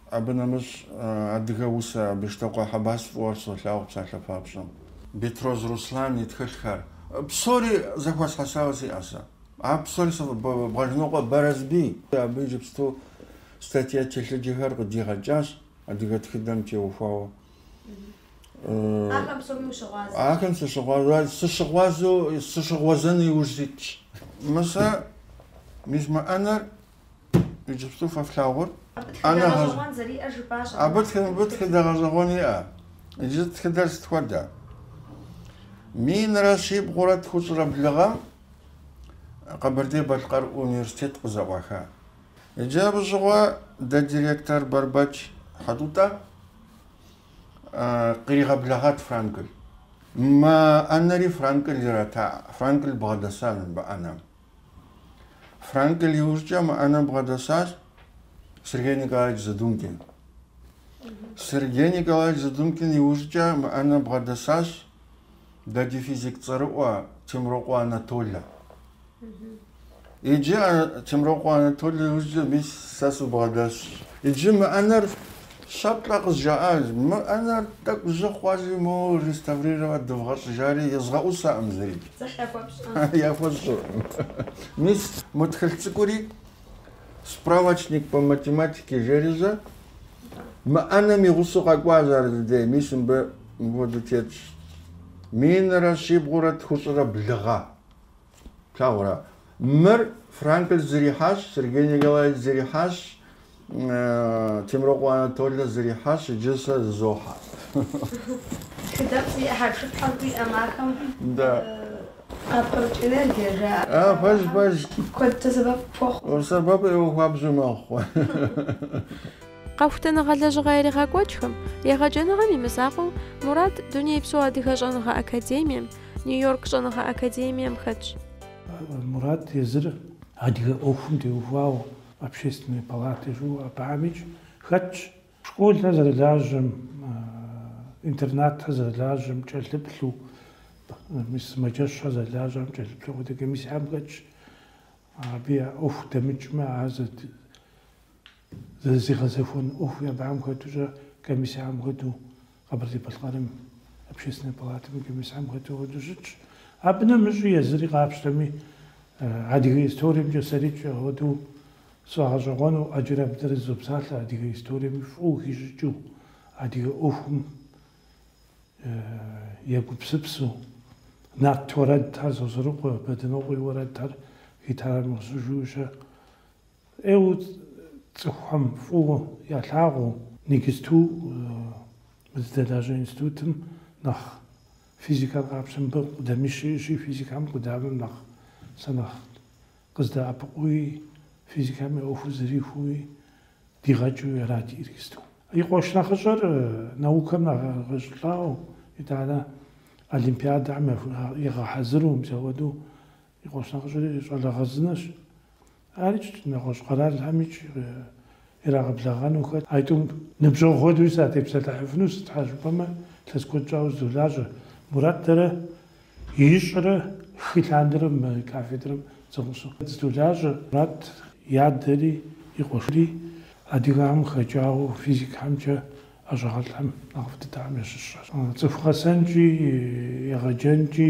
Абы нэмыщӏ адыгэ усэ Бештокъуэ Хьэбас фӏыуэ солъагъу псалъэ папщӏэм. Бетроз Руслан и тхылъхэр. Псори зэхуэсхьэсауэ сиӏэ сэ. А псори сэ Бгъэжьнокъуэ Барэсбий. Абы иджыпсту статья телъыджэхэр къыдигъэкӏащ адыгэ тхыдэм теухуауэ. Ахэм псоми ущыгъуазэ. Ахэм сыщыгъуазэ, сыщыгъуазэу, сыщыгъуазэну иужь ситщ. Мысэ, мис мы ӏэнэр иджыпсту фэ флъагъур. Абы тхыдэ гъэщӏэгъуэн зэриӏэр жыпӏащ. Абы тхы- тхыдэ гъэщӏэгъуэн иӏэ. Иджы тхыдэр сыт хуэдэ? Минрэ щибгъурэ тхущӏрэ блы гъэм Къэбэрдей-Балъкъэр университет къызэӏуаха. Иджы абы щыгъуэ дэ ди ректор Бэрбэч Хьэтӏутӏэ къригъэблэгъат Франкль. Мы ӏэнэри Франкль ирата, Франкль бгъэдэса мы ӏэнэм. Франкль иужькӏэ мы ӏэнэм бгъэдэсащ Сергей Николаевич Задумкин. Сергей Николаевич Задумкин иужькӏэ мы ӏэнэм бгъэдэсащ дэ ди физик цӏэрыӏуэ Темрокъуэ Анатолэ. Иджы Темрокъуэ Анатолий иужькӏэ мис сэ сыбгъэдэсщ. Иджы мы ӏэнэр щэ-плӏэ къызжаӏащ. Мы ӏэнэр тӏэкӏу жьы хъуащи, моуэ реставрировать дывгъэщӏыж жари езгъэӏусаӏым зыри. Яхуэсщӏыркъым. Мис мы тхылъ цӏыкӏури Справочник по математике жери, сэ, мы ӏэнэм и гъусэу къэкӏуащ ар си дей, мис мыбы мыпхуэдэу тетщ. Минрэ щибгъурэ тхущӏрэ блы гъэ. Плъагъурэ? Мыр Франкль зэрихьащ, Сергей Николаевич зэрихьащ, Темрокъуэ Анатолэ зэрихьащ, иджы сэ зызохьэ. Тхыдэ зиӏэ хьэпшыпхэм хуиӏэм ахэм. Да. Апхуэпкӏыныр дежа. А, пэж, пэж. Куэдкӏэ сэбэп пхуэхъу. Сэбэп ӏейуэ хуабжьу мэхъу. Къэхутэныгъэ лэжьыгъэ иригъэкӏуэкӏхэм, егъэджэныгъэм и мызакъуэу, Мурат Дунейпсо Адыгэ щӏэныгъэ академием, Нью-Йорк щӏэныгъэ академием хэтщ. Мурат езыр адыгэ ӏуэхум теухуауэ Общественнэ палатэ жиӏэу абыхьэмикӏ хэтщ. Школыр зэрылажьэм, интернатыр зэрылажьэм кӏэлъыплъу, мис сымаджэщхэр зэрылажьэхэм кӏэлъыплъу апхуэдэ комиссиехэм хэтщ. Абы я ӏуэху дэмыкӏмэ, ар Зэрызэригъэзэхуэн ӏуэху абыхэм хэтукӏэ комиссэхэм хэту Къэбэрдей-Балъкъэрым Общественнэ палатэм и комиссэхэм хэту хуэдэу щытщ. Абы нэмыщӏи езыри къапщтэми, адыгэ историемкӏэ сэрикӏэ хуэдэу сфӏэгъэщӏэгъуэну ӏэджэрэ абы дэрэ дызопсалъэ, адыгэ историем фӏыуэ хищӏыкӏыу, адыгэ ӏуэхум егупсысу. Нарт уэрэдхэр, Сосрыкъуэ, Бэдынокъуэ и уэрэдхэр гитарэм игъэсыжу ущэ. ӏейуэ цӏыхухэм фӏыуэ ялъагъуу иджыпсту мы дыздэлажьэ институтым нэхъ физикэр къапщтэ, мыбы къудамищ иӏэщи, физикэм къудамэм нэхъ сэ нэхъ къыздэӏэпыкъууи, физикэм и ӏуэхур зэрихуэуи дигъэкӏыу арати иджыпсту. И къуэш нэхъыщӏэр наукэм егъэщӏылӏауэ, итӏанэ олимпиадэхэм егъэхьэзыру, мис апхуэдэу И къуэш нэхъыщӏэри щӏалэ хъарзынэщ. Арикӏ нэгъуэщӏ къэралхэмикӏ ирагъэблэгъэну хэт. А тӏум ныбжьэгъу хуэдэуи сатепсэлъыхьыфыну, сыт щхьэ жыпӏэмэ, илъэс куэд щӏауэ дыздолажьэ. Мурат дэрэ ищӏрэ хы лъандэрэ мы кафедрэм зэгъусэу дыздолажьэ. Мурат и адэри и къуэшри адыгэхэм хэкӏауэ физикхэмкӏэ ӏэщӏагъэлӏхэм нэхъыфӏ дыдэхэм ящыщщ. Цӏыху гъэсэнкӏи егъэджэнкӏи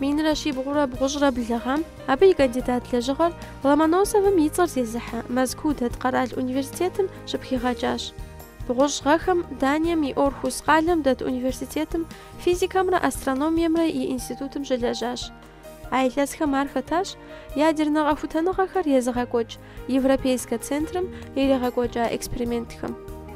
Минрэ щибгъурэ бгъущӏрэ блыгъэм абы и кандидат лэжьыгъэр Ломоносовым и цӏэр зезыхьэ Мэзкуу дэт къэрал университетым щыпхигъэкӏащ. Бгъущӏ гъэхэм Данием и Орхус къалэм дэт университетым физикэмрэ астрономиемрэ и институтым щылэжьащ. А илъэсхэм ар хэтащ ядернэ къэхутэныгъэхэр езыгъэкӏуэкӏ Европейскэ центрым иригъэкӏуэкӏа экспериментхэм.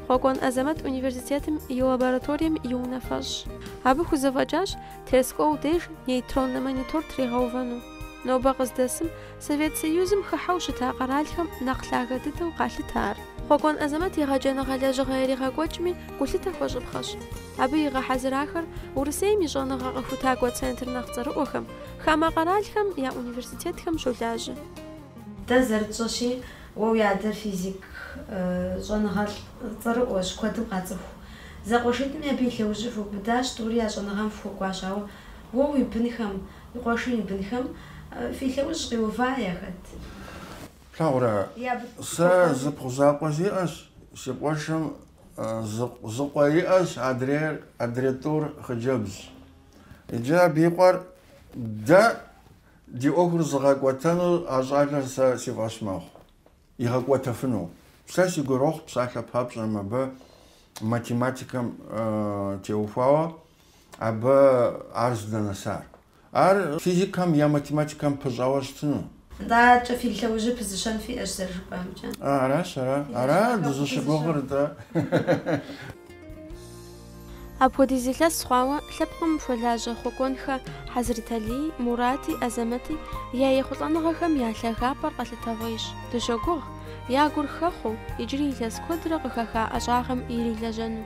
Хъуэкӏуэн Азэмэт университетым и лабораторием и унафэщӏщ. Абы хузэфӏэкӏащ Терскол деж нейтроннэ монитор тригъэувэну. Нобэ къыздэсым Совет Союзым хыхьэу щыта къэралхэм нэхъ лъагэ дыдэу къалъытэ ар. Хъуэкӏуэн Азэмэт егъэджэныгъэ лэжьыгъэ иригъэкӏуэкӏми гулъытэ хуэщӏыпхъэщ. Абы игъэхьэзырахэр Урысейм и щӏэныгъэ къэхутакӏуэ центр нэхъ цӏэрыӏуэхэм, хамэ къэралхэм я университетхэм щолажьэ. Дэ зэрытщӏэщи, уэ уи адэр физик щӏэныгъэлӏ цӏэрыӏуэщ, куэдым къацӏыху. Зэкъуэшитӏми абы и лъэужьыр фыубыдащ, тӏури я щӏэныгъэм фыхуэкӏуащ, ауэ уэ уи бынхэм, уи къуэшым и бынхэм фи лъэужь къиува яхэт? Плъагъурэ, сэ зыпхъу закъуэ сиӏэщ, си къуэшым зы къуэ иӏэщ, адрейр адрей тӏур хъыджэбзщ. Иджы абы и къуэр дэ ди ӏуэхур зыгъэкӏуэтэну а щӏалэр сэ си фӏэщ мэхъу. Игъэкӏуэтэфыну. Сэ си гурохъу псалъэ папщӏэ мыбы математикэм теухуауэ абы ар здэнэсар. Ар физикэм е математикэм пыщӏауэ щытыну. Адэкӏэ фи лъэужьыр пызыщэн фиӏэщ зэрыжыпӏэмкӏэ. Аращ, ара, ара дызыщыгугъыр дэ. Апхуэдиз илъэс хъуауэ лъэпкъым хуэлажьэ Хъуэкӏуэнхэ Хьэзрэталий, Мурати, Азэмэти я ехъулӏэныгъэхэм я лъагапӏэр къэлъытэгъуейщ. Дыщогугъ, я гур хэхъуу, иджыри илъэс куэдрэ къыхэха ӏэщӏагъэм ирилэжьэну.